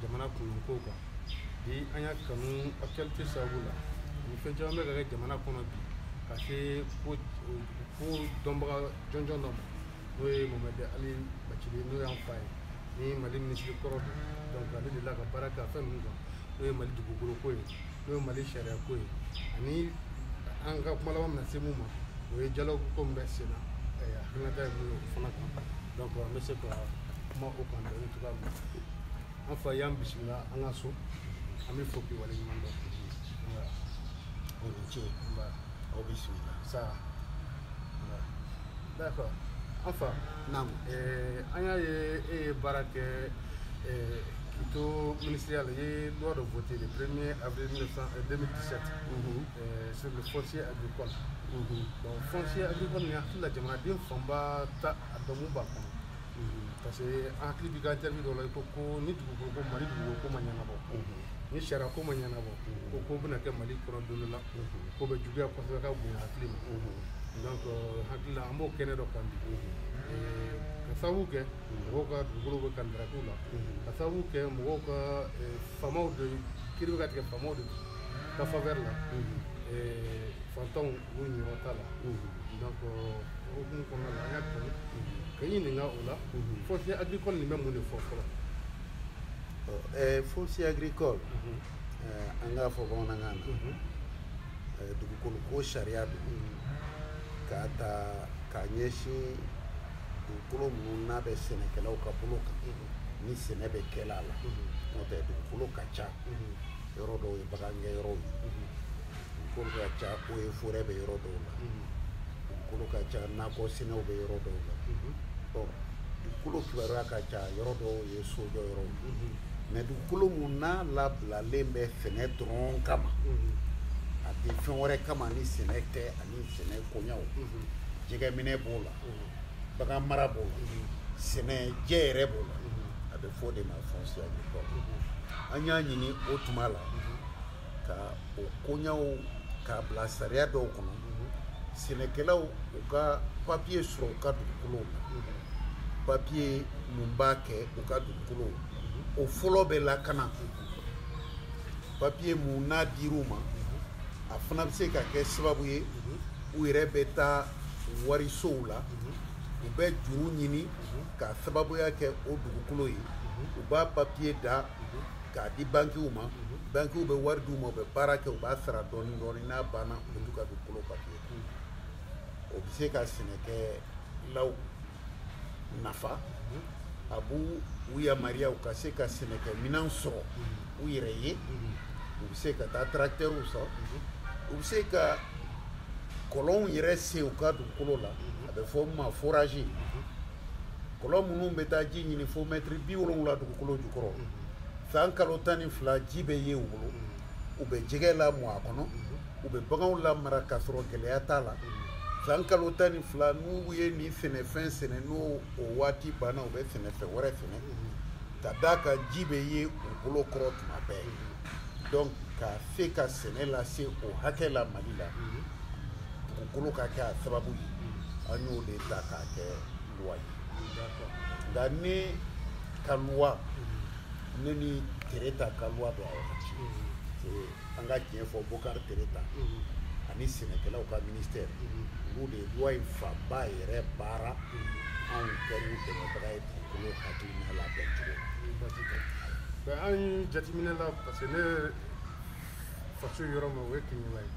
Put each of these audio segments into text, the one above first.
jamana kunko kan bi an y'a kanu actualité sababu la ni fɛn caman bɛ ka kɛ jamana kɔnɔ bi ka se ko ko dɔnbaga jɔnjɔn dɔ ma n'o ye mamadi ali bacili n'o y'an fa ye ni mali minisiri kɔrɔ don donc ale delila ka baara kɛ a fɛn ninnu kan n'o ye mali dugukolo ko ye n'o ye mali sariya ko ye ani an ka kuma laban bɛna se mun ma o ye dialogue min bɛ sen na hakilinata ye mun ye o fana kan donc an bɛ se ka kuma o kan dɔɔni cogoya min na an fa y'an bisimila a ka so an b'i fo k'i waleɲuman dɔn aw ni ce aw bisimila sa d'accord an fa naamu an y'a ye e ye baara kɛ k'i to minisiriya la i ye loi dɔ voté le premier avril 2017 sur le foncier agricole donc foncier agricole n hakili la jamanaden fanba t'a dɔn mun b'a kɔnɔ parce que an hakili b'i ka jaabi dɔ la i ko ko ni dugukolo ko mali dugukolo ko ma ɲɛnabɔ ni sariya ko ma ɲɛnabɔ ko ko bɛna kɛ mali kɔnɔ don dɔ la k'o bɛ juguya kosɛbɛ ka bonya hakili ma donc euh, n hakili la an b'o kɛnɛ dɔ kan bi euh, k'a sababu kɛ mɔgɔw ka dugukolo bɛ ka ndarako la k'a sababu kɛ mɔgɔw ka euh, faamaw de kiri bɛ ka tigɛ faamaw de ka faveur la fantanw Niyɔrɔ t'a la donc o hukumu kɔnɔna la an y'a kanu k'i ɲininka o la foncier agricole nin bɛ mun de fɔ fɔlɔ foncier agricole an k'a fɔ bamanankan na dugukolo ko sariya don k'a ta k'a ɲɛsin dugukolo minnu n'a bɛ sɛnɛkɛlaw ka bolo kan ni sɛnɛ bɛ kɛla a la n'o tɛ dugukolo ka ca yɔrɔ dɔw ye bagangɛn yɔrɔw ye dugukolo ka ca o ye forɛ bɛ yɔrɔ dɔw la dugukolo ka ca nakɔ sɛnɛw bɛ yɔrɔ dɔw la ɔ dugukolo kibaruya ka ca yɔrɔ dɔw ye sojɔ yɔrɔ mais dugukolo mun n'a labilalen bɛ sɛnɛ dɔrɔn kama a tɛ fɛn wɛrɛ kama ni sɛnɛ tɛ ani sɛnɛ koɲaw jɛgɛminɛ b'o la bagan mara b'o la sɛnɛ jɛ yɛrɛ b'o la a bɛ fɔ o de ma foncier an y'a ɲini o tuma la ka o koɲaw k'a bila sariya dɔw kɔnɔ sɛnɛkɛlaw u ka papiye sɔrɔ u ka dugukolow la papiye mun b'a kɛ u ka dugukolow o fɔlɔ bɛ lakana papiye mun n'a dir'u ma a fana bɛ se ka kɛ sababu ye u yɛrɛ bɛ taa warisow la u bɛ juru ɲini k'a sababuya kɛ o dugukolo ye u b'a papiye da k'a di bankiw ma bankiw bɛ wari d'u ma u bɛ baara kɛ u b'a sara dɔɔnin dɔɔnin n'a banna u bɛ t'u ka dugukolo papiye o bɛ se ka sɛnɛkɛlaw nafa a b'u u yamaruya u ka se ka sɛnɛkɛminɛn sɔrɔ u yɛrɛ ye u bɛ se ka taa tarakitɛriw sɔrɔ u bɛ se ka kɔlɔnw yɛrɛ sen u ka dugukolo la a bɛ fɔ o ma forazi kɔlɔn minnu bɛ taa ji ɲini fo mɛtiri bi wolonwula dugukolo jukɔrɔ san kalo tan ni fila ji bɛ ye u bolo u bɛ jɛgɛ lamɔ a kɔnɔ u bɛ baganw lamara k'a sɔrɔ gɛlɛya t'a la san kalo tan ni fila n'u ye nin sɛnɛfɛn sɛnɛ n'o o waati banna u bɛ sɛnɛfɛn wɛrɛ sɛnɛ ka d'a kan ji bɛ ye u bolokɔrɔ tuma bɛɛ donc ka se ka sɛnɛ lase o hakɛ la mali la dugukolo ka kɛ a sababu ye an y'o de ta k'a kɛ luwa ye nka ne ka luwa ne ni tereta ka luwa don a wagati an ka diɲɛ fɔ bokari tereta ani sɛnɛkɛlaw ka ministère olu de ye luwa in fanba yɛrɛ baara anw kɛlen dɛmɛbaga ye dugukolo hakilina labɛn cogo an ye jateminɛ la parce que ne faso yɔrɔ min o ye Keɲeba ye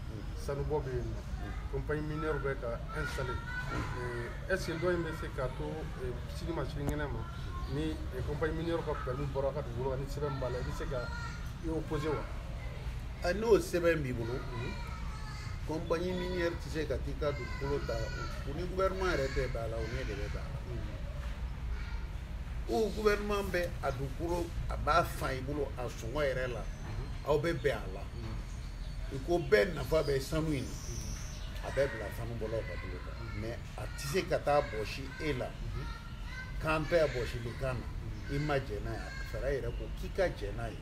sanubɔ bɛ yen nɔ compagnie minière bɛ ka installer est ce que dɔ in bɛ se ka to sini ma sinikɛnɛ ma ni compagnie minière ka permis bɔr'i ka dugukolo kan ni sɛbɛn b'a la i bɛ se ka i opposer wa n'o sɛbɛn b'i bolo compagnie minière tɛ se ka t'i ka dugukolo ta u ni gouvernement yɛrɛ tɛ bɛn a la u n'e de bɛ bɛn a la o gouvernement bɛ a dugukolo a b'a san i bolo a sɔngɔ yɛrɛ la aw bɛ bɛn a la i ko bɛɛ nafa bɛ sanu in na a bɛ bila sanubɔlaw ka bolo kan mais a tɛ se ka t'a bɔsi e la k'an bɛɛ bɔsili kan n'i ma jɛn n'a ye a sariya yɛrɛ ko k'i ka jɛn n'a ye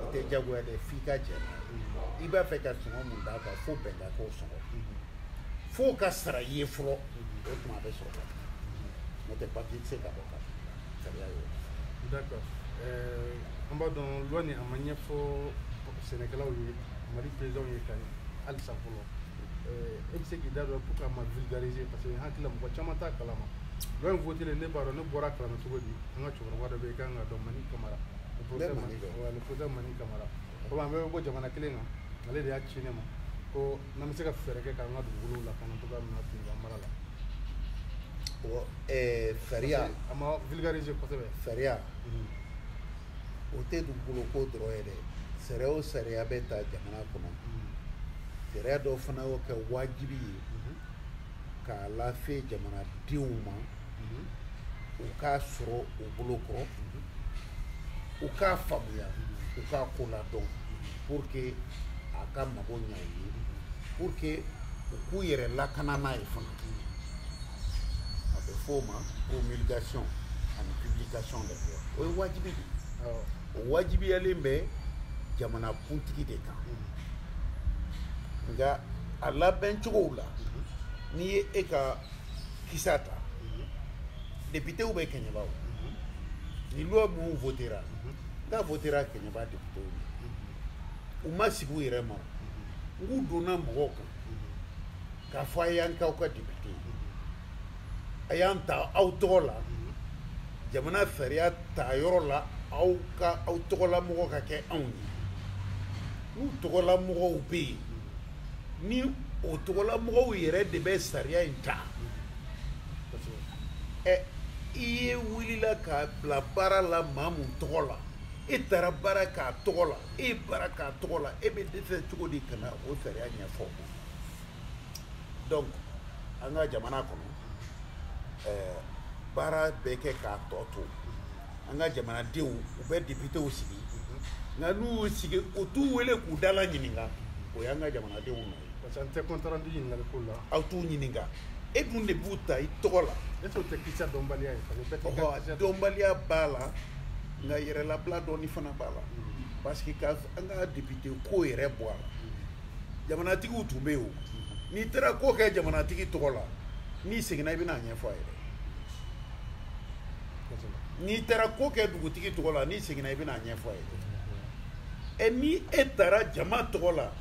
i tɛ jagoya dɛ f'i ka jɛn n'a ye i b'a fɛ ka sɔngɔ min d'a kan fo bɛn ka k'o sɔngɔ f'o ka sara i ye fɔlɔ o tuma a bɛ sɔrɔ ka n'o tɛ papiye tɛ se ka bɔ ka sariya ye d'accord euh, an b'a dɔn loi nin a ma ɲɛfɔ sɛnɛkɛlaw ye mali présidentw ye ka ɲɛ halisa fɔlɔ euh, e bɛ se k'i da don pourquoi a ma vulgariser parce que n hakili la mɔgɔ caman t'a kalama loi in votelen ne b'a dɔn ne bɔr'a kalama cogo di an ka cɛkɔrɔba dɔ bɛ yen i ka kan k'a dɔn mani kamara le professeur mani kamara komi an bɛɛ bɛ bɔ jamana kelen kan ale de y'a ci ne ma ko n'an bɛ se ka fɛɛrɛ kɛ k'an ka dugukolow lakana cogoya min na Keɲeba mara la o eh, sariya a ma vulgariser kosɛbɛ sariya o tɛ dugukolo ko dɔrɔn ye dɛ sariya o sariya bɛ ta jamana kɔnɔ sariya dɔw fana y'o kɛ wajibi ye k'a lase jamanadenw ma u k'a sɔrɔ u bolo kɔrɔ u k'a faamuya u k'a ko la dɔn pour que a ka mago ɲa ye pour que u k'u yɛrɛ lakana n'a ye fana a bɛ fɔ o ma promulgation ani publication donc o ye wajibi de o wajibiyalen bɛ jamana kuntigi de kan nka a labɛn cogow la n'i ye e ka kisata députéw bɛ kɛɲɛba o ni loi minnu votera n ka votera kɛɲɛba députéw u ma sigi u yɛrɛ ma n k'u donna mɔgɔw kan k'a fɔ a y'an k'aw ka député a y'an ta aw tɔgɔ la jamana sariya ta yɔrɔ la aw ka aw tɔgɔlamɔgɔ ka kɛ anw ye n'u tɔgɔlamɔgɔw bɛ yen ni o tɔgɔlamɔgɔw yɛrɛ de bɛ sariya in ta ɛ i ye wulila k'a bila baara la maa mun tɔgɔ la e taara baara k'a tɔgɔ la e baara k'a tɔgɔ la e bɛ dɛsɛ cogo di ka na o sariya ɲɛfɔ donc an ka jamana kɔnɔ ɛɛ baara bɛ kɛ k'a tɔ to an ka jamanadenw u bɛ depitew sigi nka n'u y'u sigi u t'u wele k'u dala ɲininka o y'an ka jamanadenw nɔ ye parce que an tɛ compte rendu ɲininkali ko la aw t'u ɲininka e dun de b'u ta i tɔgɔ la e t'o tɛ kisɛ dɔnbaliya ye parce que bɛɛ t'i ka ɔhɔ kisɛ dɔn. dɔnbaliya b'a la nka yɛrɛlabila dɔɔni fana b'a la parce que ka an ka depite ko yɛrɛ bɔ a la jamanatigiw tun bɛ yen o n'i taara ko kɛ jamanatigi tɔgɔ la n'i seginna i bɛna a ɲɛfɔ a ye dɛ n'i taara ko kɛ dugutigi tɔgɔ la n'i seginna i bɛn'a ɲɛfɔ a ye ɛ ni e taara jama tɔgɔ la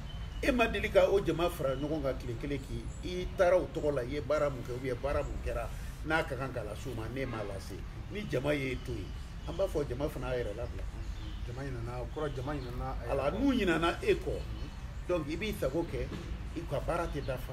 e ma deli ka o jama fara ɲɔgɔn kan tile kelen k'i i taara o tɔgɔ la i ye baara mun kɛ u ye baara mun kɛra n'a ka kan ka lase u ma n'e m'a lase ni jama y'i to yen an b'a fɔ jama fana y'a yɛrɛ labila jama ɲinana ko la jama ɲinana a la n'u ɲinana e kɔ donc i b'i sago kɛ i ka baara tɛ dafa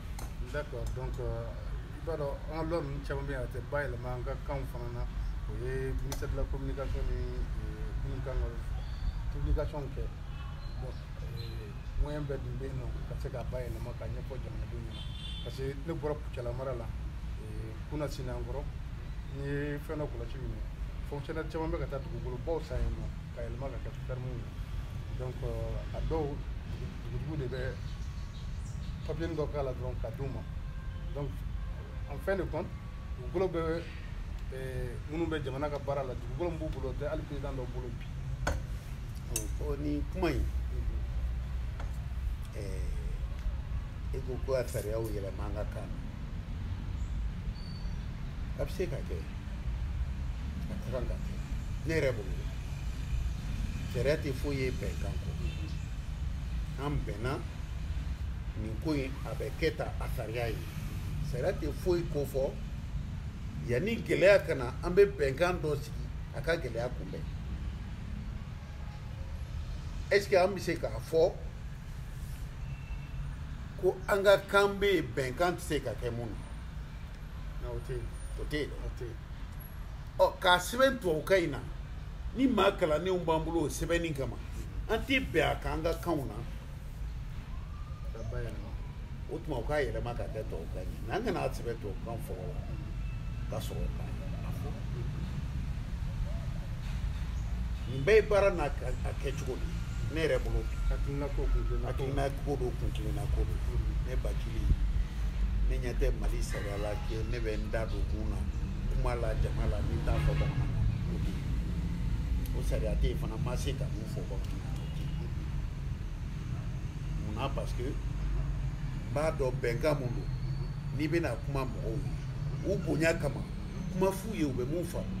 d'accord donc euh, i b'a dɔn an ka loi ninnu caman bɛ yen a tɛ bayɛlɛma an ka kanw fana na o ye ministère de la communication ni minnu kan ka publication kɛ bon euh, moyen bɛɛ dun bɛ yen nɔ ka se k'a bayɛlɛma k'a ɲɛfɔ jamanadenw ɲɛna parce que ne bɔra kucala mara la euh, kunasinin kɔrɔ n ye fɛn dɔ kɔlɔsi min ye fonctionnaire caman bɛ ka taa dugukolobaw san yen nɔ k'a yɛlɛma k'a kɛ ferme ye donc euh, a dɔw dugutigi de bɛ papiyenin dɔ k'a la dɔrɔn k'a d'u ma donc en fin de compte dugukolo bɛɛ euh, minnu bɛ jamana ka baara la dugukolo min b'u bolo tɛ hali paysan dɔ bolo bi ɔ nin kuma in e ko ko ka sariyaw yɛlɛma an ka kan na a bɛ se ka kɛ a ka kan ka kɛ ne yɛrɛ bolo sariya tɛ foyi ye bɛnkan kɔ an bɛnna nin ko in a bɛ kɛ tan a sariya ye sariya tɛ foyi ko fo yanni gɛlɛya ka na an bɛ bɛnkan dɔ sigi a ka gɛlɛya kunbɛn est ce que an bɛ se k'a fɔ ko an ka kan bɛ yen bɛnkan tɛ se ka kɛ mun na o tɛ yen o tɛ yen ɔ k'a sɛbɛn tubabukan in na ni maa kalannenw b'an bolo o sɛbɛnni kama an tɛ bɛn a kan an ka kanw na o tuma u k'a yɛlɛma ka kɛ tubabukan ye mais an kana a sɛbɛn tubabukan fɔlɔ la ka sɔrɔ k'a yɛlɛma fɔ N bɛɛ ye baara n'a kɛcogo de ne yɛrɛ bolo n'a ko don kun kelenna ko don ne ba ne ɲɛ tɛ mali sariya la kɛ ne bɛ n da don kun na kuma la jama la ni n t'a fɔ bamanan o sariya tɛ yen fana ma se ka mun fɔ bamanan munna parce que n b'a dɔn bɛnkan mun don n'i bɛna kuma mɔgɔw ye u bonya kama kuma f'u ye u bɛ mun faamu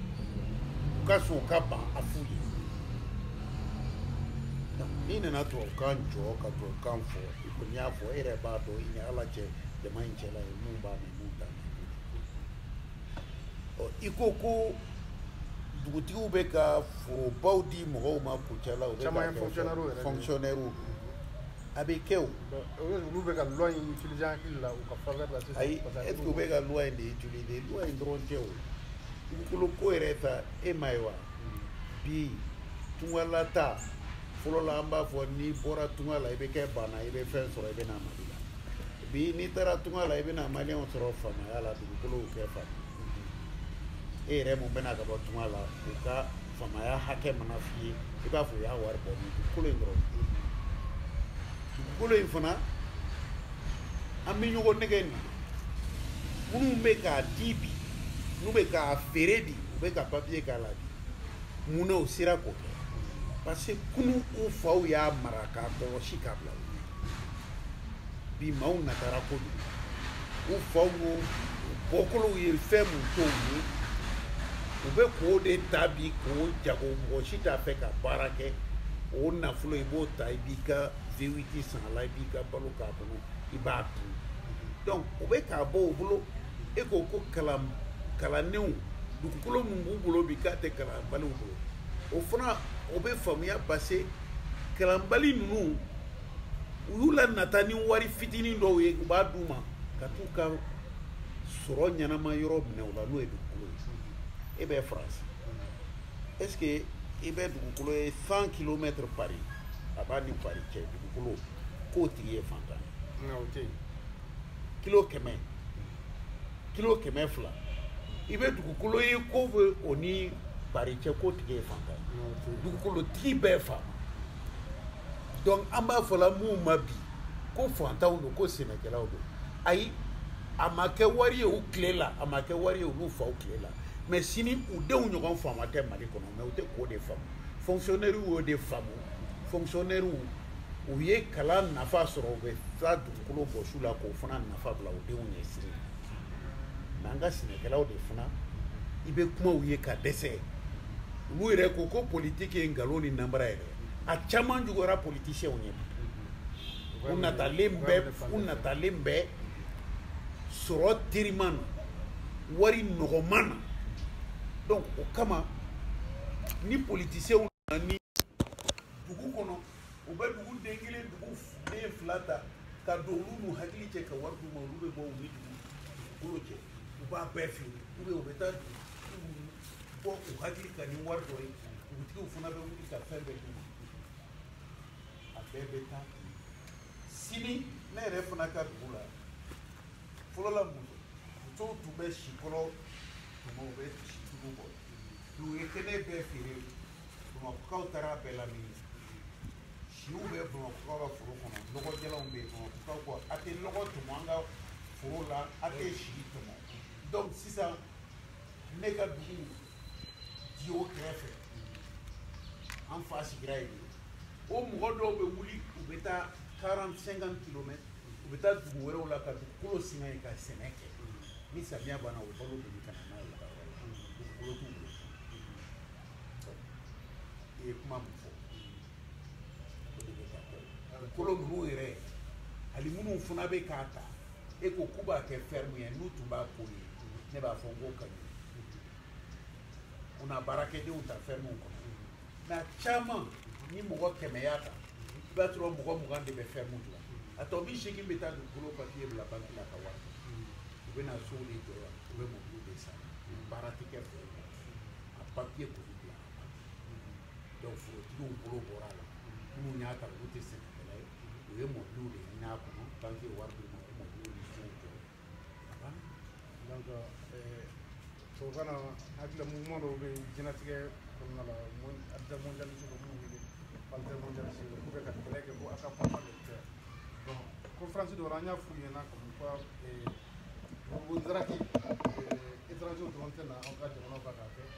u ka sɔn u ka ban a f'u ye n'i nana tubabukan jɔ ka tubabukan fɔ i kɔni y'a fɔ e yɛrɛ b'a dɔn i ni ala cɛ jama in cɛla ye mun b'a mɛn mun t'a mɛn ɔ i ko ko dugutigiw bɛ ka forobaw di mɔgɔw ma kucala u bɛ ka fonctionnaires a bɛ kɛ o olu bɛ ka loi in utiliser hakili la u ka faveur la sisan ayi est ce que u bɛ ka loi in de utiliser loi in dɔrɔn tɛ o dugukolo ko yɛrɛ ta e m'a ye wa bi tunga la taa fɔlɔ la an b'a fɔ n'i bɔra tunga la i bɛ kɛ baana i bɛ fɛn sɔrɔ i bɛ na mali la bi n'i taara tunga la i bɛ na maliyɛnw sɔrɔ faamaya la dugukolow kɛ faama e yɛrɛ mun bɛ na ka bɔ tunga la u ka faamaya hakɛ mana f'i ye i b'a fɔ o y'a wari bɔ min dugukolo in dɔrɔn dugukolo in fana an bɛ ɲɔgɔn nɛgɛn ni minnu bɛ k'a di bi n'u bɛ k'a feere bi u bɛ ka papiye k'a la bi mun na u sera k'o kɛ parce que kunu u faw y'a mara k'a kɔlɔsi k'a bila u ɲɛ bi maaw nataba ko don u faw n'u bɔkolow ye fɛn mun to u ye u bɛ k'o de ta bi k'o jago mɔgɔ si t'a fɛ ka baara kɛ o nafolo i b'o ta i b'i ka vewiti san a la i b'i ka balo k'a kɔnɔ i b'a dun donc u bɛ k'a bɔ u bolo e ko ko kalan kalannenw dugukolo min b'u bolo bi k'a tɛ kalanbaliw bolo o fana o bɛ faamuya base kalanbali ninnu u y'u lanata ni wari fitinin dɔw ye u b'a d'u ma ka t'u ka sɔrɔ ɲɛnama yɔrɔ minɛ u la n'o ye dugukolo ye e bɛ faransi est ce que i bɛ dugukolo ye cent kilomètre pari a b'a ni pari cɛ dugukolo k'o tigi ye fantan ye kilo kɛmɛ kilo kɛmɛ fila i bɛ dugukolo ye k'o bɛ o ni pari cɛ k'o tigi ye fantan ye dugukolotigi bɛɛ fa dɔnku an b'a fɔla minnu ma bi ko fantanw don ko sɛnɛkɛlaw don ayi a ma kɛ wari ye u tile la a ma kɛ wari ye olu faw tile la mɛ sini u denw ɲɔgɔn faama tɛ mali kɔnɔ mɛ u tɛ k'o de faamu fonkisiyonɛriw y'o de faamu fonkisiyonɛriw u ye kalan nafa sɔrɔ u bɛ taa dugukolo bɔs'u la k'o fana nafa bila u denw ɲɛ sini mɛ an ka sɛnɛkɛlaw de fana i bɛ kuma u ye ka dɛsɛ olu yɛrɛ ko ko politiki ye nkalon ni nanbara yɛrɛ a caman juguyara politiciens ye u natalen bɛ u natalen bɛ sɔrɔ teriman na wari nɔgɔman na donc o kama ni politiciens nana dugu kɔnɔ u bɛ duguden kelen duguden fila ta ka don olu n'u hakili cɛ ka wari d'u ma olu bɛ bɔ u ni dugukolo cɛ u b'a bɛɛ feere ou bien u bɛ taa ko u hakili ka ni wari dɔ ye dugutigiw fana bɛ wuli ka fɛn bɛɛ d'u ma a bɛɛ bɛ taa sini ne yɛrɛ fana ka dugu la fɔlɔ la muso musow tun bɛ sikolo tɔmɔ u bɛ situlu bɔ dugu ye kɛnɛ bɛɛ feere bamakɔkaw taar'a bɛɛ lamini siw bɛ bamakɔkaw ka foro kɔnɔ lɔgɔ jalanw bɛ yen bamakɔkaw ko a tɛ lɔgɔ tɔmɔ an ka foro la a tɛ si tɔmɔ donc sisan ne ka dugu diyo kɛrɛfɛ an fa sigira yen o mɔgɔ dɔw bɛ wuli u bɛ taa 40 50 kilomètres u bɛ taa dugu wɛrɛw la ka dugukolo singa yen ka sɛnɛ kɛ ni samiya banna o balo de bɛ ka na n'a y'u ka yɔrɔ la dugukolo t'u bolo i ye kuma mun fɔ o kolo ninnu yɛrɛ ani minnu fana bɛ k'a ta e ko k'u b'a kɛ fɛrɛmu ye n'u tun b'a k'o ye ne b'a fɔ n k'o ka ɲi u na baarakɛdenw ta fɛrɛmuw kɔnɔ mɛ a caman ni mɔgɔ kɛmɛ y'a ta i b'a sɔrɔ mɔgɔ mugan de bɛ fɛrɛmu dilan a tɔ biseegin bɛ taa dugukolo papiye bila banki la ka wari u bɛ na sow de jɔ yan u bɛ mɔbiliw de san baara tɛ kɛ fɛrɛmu a papiye kɔni donc forotigiw bolo bɔra a la minnu y'a ta olu tɛ sɛnɛkɛla ye u ye immeubles de ɲini a kɔnɔ banki ye wari d'u ma o immeubles ni fɛnw jɔ a banna donc euh, tubabukan na hakilila mouvement dɔw bɛ yen diɲɛlatigɛ kɔnɔna la mondialiste dɔ minnu wele altermondialiste dɔ k'u bɛ ka kɛlɛ kɛ ko a ka papa de kɛ bon conférence dɔ la an y'a f'u ɲɛna comme quoi euh, o daraki euh, étranger dɔrɔn tɛ na aw ka jamana ba k'a kɛ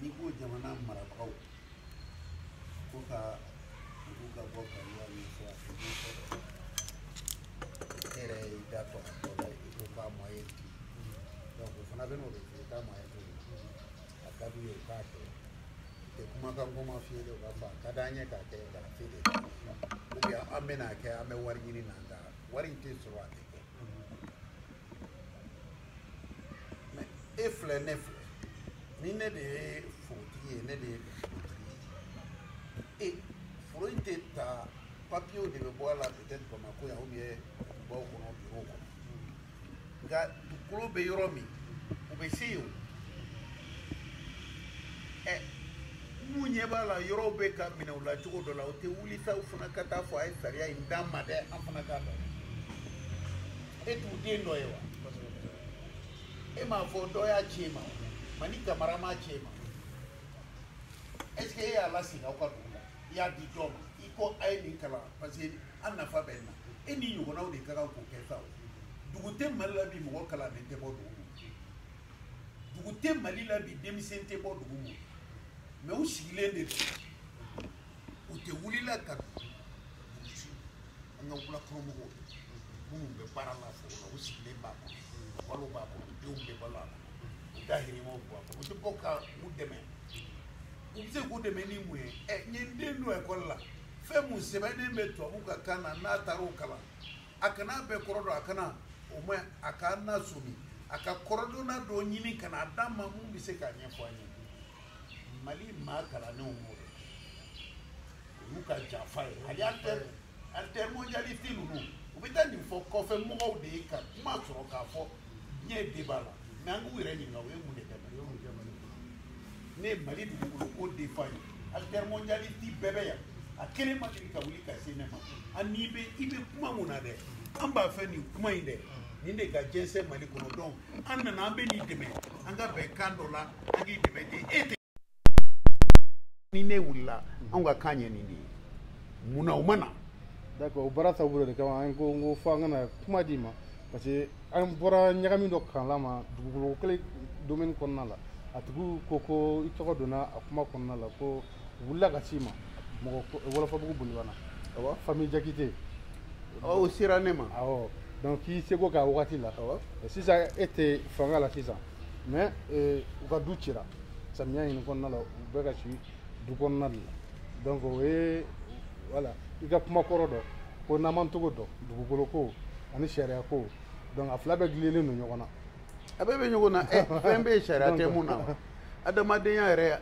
n'i ko jamana marabagaw ko ka olu ka bɔ kaliwa ni fɔ a fɔ ɲɛfɔ e yɛrɛ y'i da tɔ a tɔ la i ko k'a mɔ ye bi donc o fana bɛ n'o de f'i ye k'a mɔ ye bi a ka d'u ye u k'a kɛ tɛ kumakan kɔma f'i ye de u b'a fɔ a ka d'an ye k'a kɛ k'a f'i de ou bien an bɛna a kɛ an bɛ wari ɲini na nka wari in tɛ sɔrɔ a tɛ mais e filɛ ne filɛ ni ne de ye forotigi ye ne de ye forotigi ye e foro in tɛ ta papiyew de bɛ bɔ a la peut-être bamakɔ yan ou bien dugubaw kɔnɔ birow kɔnɔ nka dugukolo bɛ yɔrɔ min u bɛ se yen o ɛ n'u ɲɛ b'a la yɔrɔw bɛ ka minɛ u la cogo dɔ la u tɛ wuli sa u fana ka taa fɔ a ye sariya in d'an ma dɛ an fana k'a dɔn e tɛ duguden dɔ ye wa e m'a fɔ dɔ y'a ci e ma mani kamara m'a ci e ma est ce que e y'a lasigi aw ka dugu la i y'a di jɔn ma i ko a ye nin kalan parce que an nafa bɛ nin na e ni ɲɔgɔnnaw de ka kan k'o kɛ sa o dugu tɛ mali la bi mɔgɔ kalannen tɛ bɔ dugu ma dugu tɛ mali la bi denmisɛn tɛ bɔ dugu ma mais u sigilen de don u tɛ wulila ka an ka wulakɔnɔmɔgɔw minnu bɛ baara la foro la u sigilen b'a kɔnɔ balo b'a kɔnɔ denw bɛ balo a kɔnɔ u dahirimɛ bɛ bɔ a kɔnɔ u tɛ bɔ ka u dɛmɛ u bɛ se k'u dɛmɛ ni mun ye ɛ n ye n den don ekɔli la fɛn mun sɛbɛnnen bɛ tubabu ka kan na n'a taara o kalan a kana bɛɛ kɔrɔ dɔn a kana o ma a ka na somi a ka kɔrɔdɔnna dɔ ɲini ka na a d'an ma mun bɛ se k'a ɲɛfɔ an ye mali maa kalannenw b'o dɔn olu ka janfa ye ani alter altermondialiste ninnu u bɛ taa nin fɔ kɔfɛ mɔgɔw de ye ka kuma sɔrɔ k'a fɔ tiɲɛ de b'a la mais an k'u yɛrɛ ɲininka u ye mun de kɛ mali ne ye mali dugukolo ko defa ye altermondialiste bɛɛ bɛ yan a kelen ma deli ka wuli ka se ne ma ani bɛ i bɛ kuma mun na dɛ an b'a fɛ nin kuma in dɛ nin de ka jɛnsɛn mali kɔnɔ dɔn an nana an bɛ n'i dɛmɛ an ka bɛn kan dɔ la an k'i dɛmɛ de e tɛ ni ne wulila anw ka kan ye nin de ye mun na u ma na d'accord o baara taabolo de kama an ko n ko fo an kana kuma d'i ma parce que an bɔra ɲagami dɔ kalama dugukolo kelen domaine kɔnɔna la a tigiw ko ko i tɔgɔ donna a kuma kɔnɔna la ko wulila ka s'i ma mɔgɔ wɔlɔfɔbugu bolibana awɔ famille jakite awɔ o sera ne ma awɔ donc k'i seko k'a wagati la awɔ sisan e tɛ fanga la sisan mais euh, u ka du cira samiya nin in kɔnɔna la u bɛ ka si du kɔnɔna de la donc o ye voilà i ka kuma kɔrɔ don ko n'an m'an tɔgɔ dɔn dugukolo ko ani sariya ko donc a fila bɛɛ gililen don ɲɔgɔn na a bɛɛ bɛ ɲɔgɔn na ɛ fɛn bɛ yen sariya tɛ mun na wa adamadenya yɛrɛ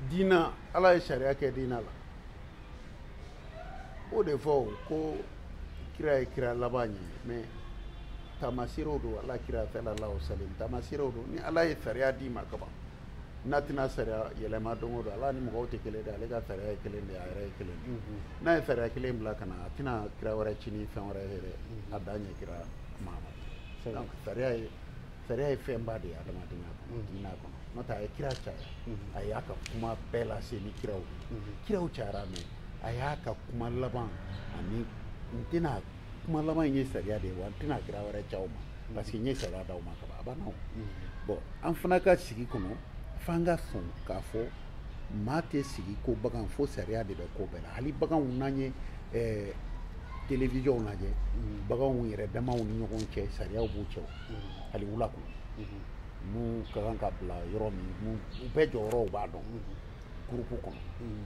diina ala ye sariya kɛ diina la o de fɔ ko kira ye kira laban ye mais taamaseerew don ala kira salalahu salim taamaseerew don ni ala ye sariya d'i ma kaban n'a tɛna sariya yɛlɛma don o don ala ni mɔgɔw tɛ kelen de ale ka sariya ye kelen de a yɛrɛ ye kelen de mhm. n'a ye sariya kelen bila ka na a tɛna kira wɛrɛ ci ni fɛn wɛrɛ ye a dan ye kira ma sariya ye sariya ye fɛnba de ye adamadenya kɔnɔ mm-hmm. diinɛ kɔnɔ n'o tɛ a ye kira caya mm-hmm. a y'a ka kuma bɛɛ lase ni kiraw mm-hmm. kiraw cayara mais a y'a ka kuma laban ani n tɛna kuma laban in ye sariya de ye wa n tɛna kira wɛrɛ c'aw ma parce que n ye sariya d'aw ma kaban a banna o bon an fana ka sigi kɔnɔ f'an ka sɔn k'a fɔ maa tɛ sigi ko bagan fo sariya de bɛ ko bɛɛ la hali baganw n'an ye eh, televizyɔnw lajɛ mm. baganw yɛrɛ damaw ni ɲɔgɔn cɛ sariyaw b'u cɛ mm. hali wula kɔnɔ mm-hmm. mun ka kan ka bila yɔrɔ min mun u bɛɛ jɔyɔrɔw b'a dɔn mm-hmm. gurupu kɔnɔ mm.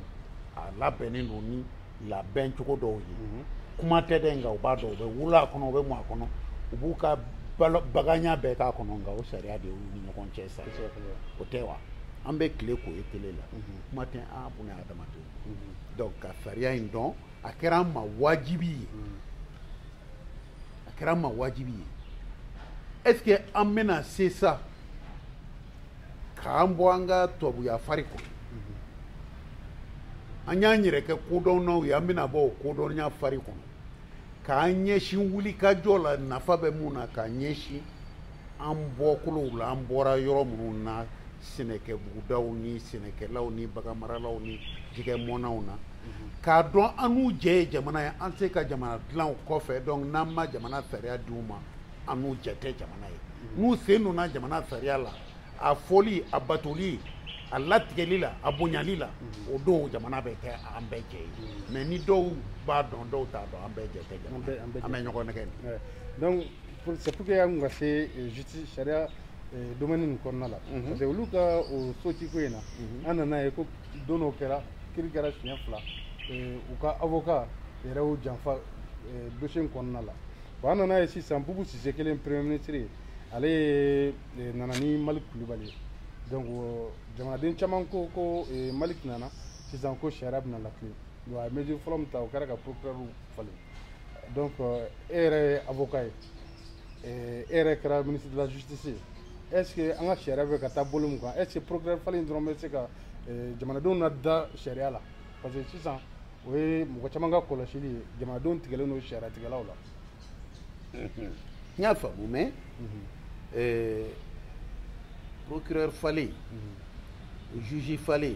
a labɛnnen don ni labɛn cogo dɔw ye mm-hmm. kuma tɛ dɛ nka u b'a dɔn u bɛ wolo a kɔnɔ u bɛ mɔ a kɔnɔ u b'u ka baganya bɛɛ k'a kɔnɔ nka o sariya de y'u ni ɲɔgɔn cɛ sa o tɛ wa an bɛ tile k'o ye tele la kuma tɛ an bunadamadenw donc ka sariya in dɔn a kɛra an ma wajibi ye a kɛra an ma wajibi ye est ce que an bɛna se sa k'an bɔ an ka tubabuya fari kɔnɔ an y'an yɛrɛ kɛ kodɔnnaw ye an bɛna bɔ o kodɔnya fari kɔnɔ k'an ɲɛsin wulikajɔ la nafa bɛ mun na k'an ɲɛsin an bɔkolow la an bɔra yɔrɔ minnu na sɛnɛkɛbugudaw ni sɛnɛkɛlaw ni baganmaralaw ni jɛgɛmɔnnaw na k'a dɔn an n'u jɛ ye jamana ye an se ka jamana dilan kɔfɛ donc n'an ma jamana sariya di u ma an n'u jɛ tɛ jamana ye n'u sen donna jamana sariya la a fɔli a batoli a latigɛli la a bonyali la o don jamana bɛ kɛ an bɛɛ jɛ ye mais ni dɔw b'a dɔn dɔw t'a dɔn an bɛɛ jɛ tɛ jamana an bɛ ɲɔgɔn nɛgɛn donc C'est pour que y'an ka se justice sariya domaine nin kɔnɔna la mhm. parce que olu ka o sotiko in na mhm. an nana ye ko don dɔ kɛra kiri kɛra siɲɛ fila u ka avocat yɛrɛ y'u janfa dossier in kɔnɔna la bon an nana ye sisan bubu sise kɛlen premier ministre ye ale ye nana ni maliki kulubali ye donc jamanaden caman ko ko maliki nana sisan ko sariya bɛna latilen donc a ye mesure fɔlɔ min ta o kɛra ka procureur falen donc euh, e yɛrɛ ye avocat ye e yɛrɛ kɛra ministre de la justice ye est ce que an ka sariya bɛ ka taa bolo mun kan est ce que procureur falen dɔrɔn bɛ se ka jamanadenw nada sariya la parce que sisan o ye mɔgɔ caman ka kɔlɔsili ye jamanadenw tigɛlen don sariyatigɛlaw la n y'a faamu mais procureur falen juge falen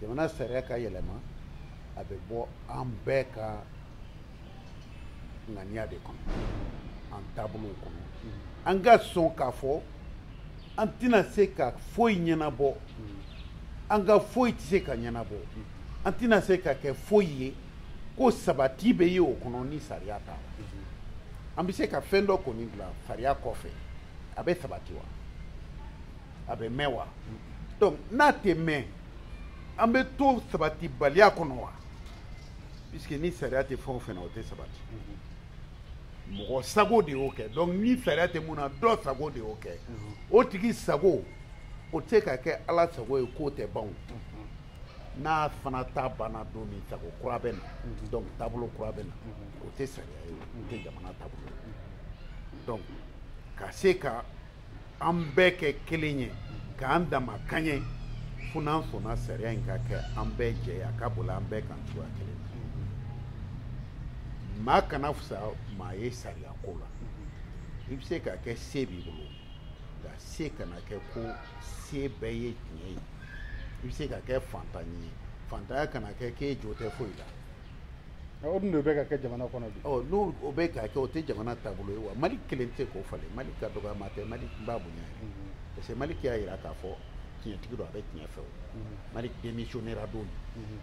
jamana sariya ka yɛlɛma a bɛ bɔ an bɛɛ ka ŋaniya de kɔnɔ an taabolow kɔnɔ an ka sɔn k'a fɔ an tɛna se ka foyi ɲɛnabɔ an ka foyi tɛ se ka ɲɛnabɔ an tɛna se ka kɛ foyi ye ko sabati bɛ ye o kɔnɔ ni sariya t'a la an bɛ se ka fɛn dɔ kɔni dilan sariya kɔfɛ a bɛ sabati wa a bɛ mɛn wa donc n'a tɛ mɛn an bɛ to sabatibaliya kɔnɔ wa puisque ni sariya tɛ fɛn o fɛn na o tɛ sabati mɔgɔ sago de y'o kɛ donc ni sariya tɛ mun na dɔ sago de y'o kɛ o tigi sago o tɛ se ka kɛ ala sago ye k'o tɛ ban o n'a fana ta banna don min sago kura bɛ na donc taabolo kura bɛ na o tɛ sariya ye o tɛ jamana taabolo ye donc ka se ka an bɛɛ kɛ kelen ye k'an damakɛɲɛ fo n'an sɔnna sariya in ka kɛ an bɛɛ jɛ ye a ka boli an bɛɛ kan cogoya kelen na maa kana fisa maa ye sariya ko la i bɛ se ka kɛ se b'i bolo nka se kana kɛ ko se bɛɛ ye tiɲɛ ye i bɛ se ka kɛ fantan ye fantanya kana kɛ k'e jo tɛ foyi la o dun de bɛ ka kɛ jamana kɔnɔ bi ɔ n'o bɛ ka kɛ o tɛ jamana taabolo ye wa maliki kelen tɛ k'o falen maliki dɔgɔyama tɛ maliki n b'a bonya yɛrɛ mhm. parce que maliki y'a jira k'a fɔ tiɲɛtigi don a bɛ tiɲɛ fɛ o mhm. maliki démissionnera don min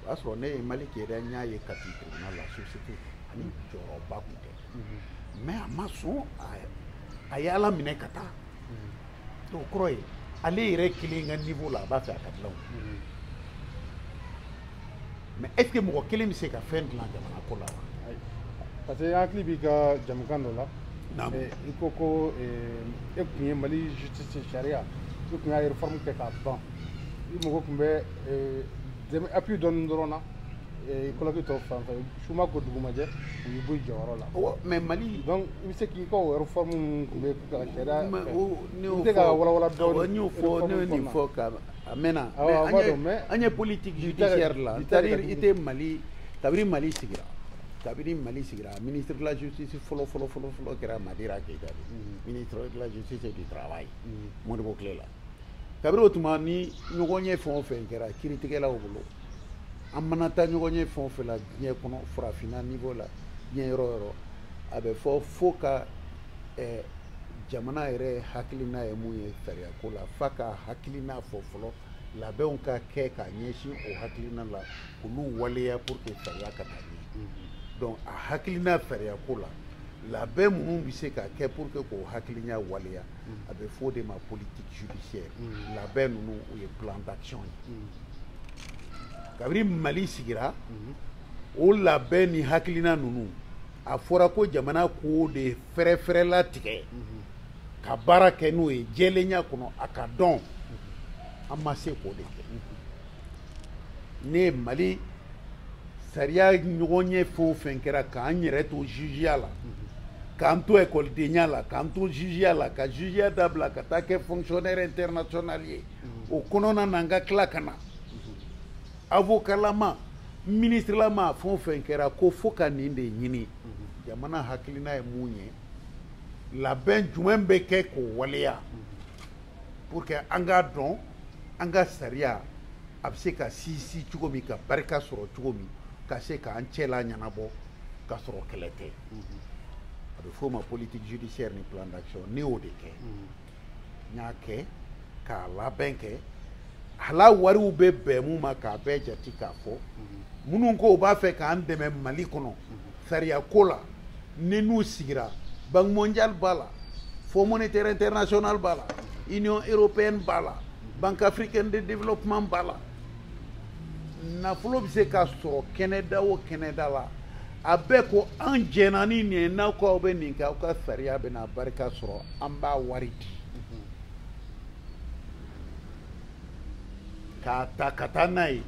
o y'a sɔrɔ ne ye maliki yɛrɛ n y'a ye kati tribunal la substitut ani jɔyɔrɔba tun tɛ mais a ma sɔn a ye ala minɛ ka taa o kɔrɔ ye ale yɛrɛ kelen ka niveau la a b'a fɛ a ka dilan mm-hmm. mais est ce que mɔgɔ kelen bɛ se ka fɛn dilan jamana ko la wa parce que n hakili b'i ka jamukan dɔ la eh, i ko ko eh, e tun ye mali justice sariya i tun y'a réforme kɛ k'a ban i mago tun bɛ eh, dɛmɛ appui dɔɔni dɔrɔn na kɔlɔki tɔ fan fɛ suma ko dugumajɛ u y'i bɔ jɔyɔrɔ la mɛ mali donc i bɛ se k'i ka o réforme minnu tun bɛ ka sariya fɛ i bɛ se ka walawala dɔɔni n y'o fɔ ne ye nin fɔ ka a mɛnna mɛ an ye politique judiciaire la c'est à dire i tɛ mali kabiri mali sigira kabiri mali sigira ministre de la justice fɔlɔ fɔlɔ fɔlɔ fɔlɔ kɛra madeira keyita ye ministre de la justice et du travail modibo tile la kabiri o tuma ni ɲɔgɔnye fɛn o fɛn kɛra kiritigɛlaw bolo an mana taa ɲɔgɔnye fɛn o fɛn la diɲɛ kɔnɔ farafinna niveau la diɲɛ yɔrɔ yɔrɔ a bɛ fɔ fo ka eh, jamana yɛrɛ hakilina ye mun ye sariyako la fo k'a hakilina fɔ fɔlɔ labɛnw ka kɛ ka ɲɛsin o hakilina la k'olu waleya pour que sariya ka taa ɲɛ mm-hmm. donc a hakilina sariyako la labɛn minnu bɛ se ka kɛ pour que k'o hakilina waleya a bɛ fɔ o de ma politique judiciaire mm. labɛn ninnu o ye plan d'action ye mm. kabiri mali sigira mm-hmm. o labɛn ni hakilina ninnu a fɔra ko jamana k'o de fɛrɛfɛrɛ latigɛ mm-hmm. ka baara kɛ n'o ye jɛlenya kɔnɔ a ka dɔn mm-hmm. an ma se k'o de kɛ ne ye mali sariya ɲɔgɔnye fɛn o fɛn kɛra k'an yɛrɛ to jugeya la k'an to ekɔlidenya la k'an to jugeya la ka jugeya dabila ka taa kɛ fonctionnaire international ye o kɔnɔna na n ka tila ka na avokalama ministrelama fɛn o fɛn kɛra ko fo ka nin de ɲini jamana hakilina ye mun ye labɛn jumɛn bɛ kɛ k'o waleya pour que an k'a dɔn an ka sariya a bɛ se ka sinsin cogo min ka barika sɔrɔ cogo min ka se k'an cɛla ɲɛnabɔ ka sɔrɔ kɛlɛ tɛ a bɛ f'o ma politique judiciaire ni plan d'action ne y'o de kɛ n y'a kɛ k'a labɛn kɛ a la wariw bɛ bɛn mun ma k'a bɛɛ jate k'a fɔ minnu ko u b'a fɛ k'an dɛmɛ mali kɔnɔ sariya ko la ninnu sigira banque mondiale b'a la fonds monétaire international b'a la union européenne b'a la banque africaine de développement b'a la nafolo bɛ se ka sɔrɔ kɛnɛda o kɛnɛda la a bɛɛ ko an jɛnna ni nin ye n'aw ko aw bɛ nin kɛ aw ka sariya bɛna barika sɔrɔ an b'a wari di k'a ta ka taa n'a ye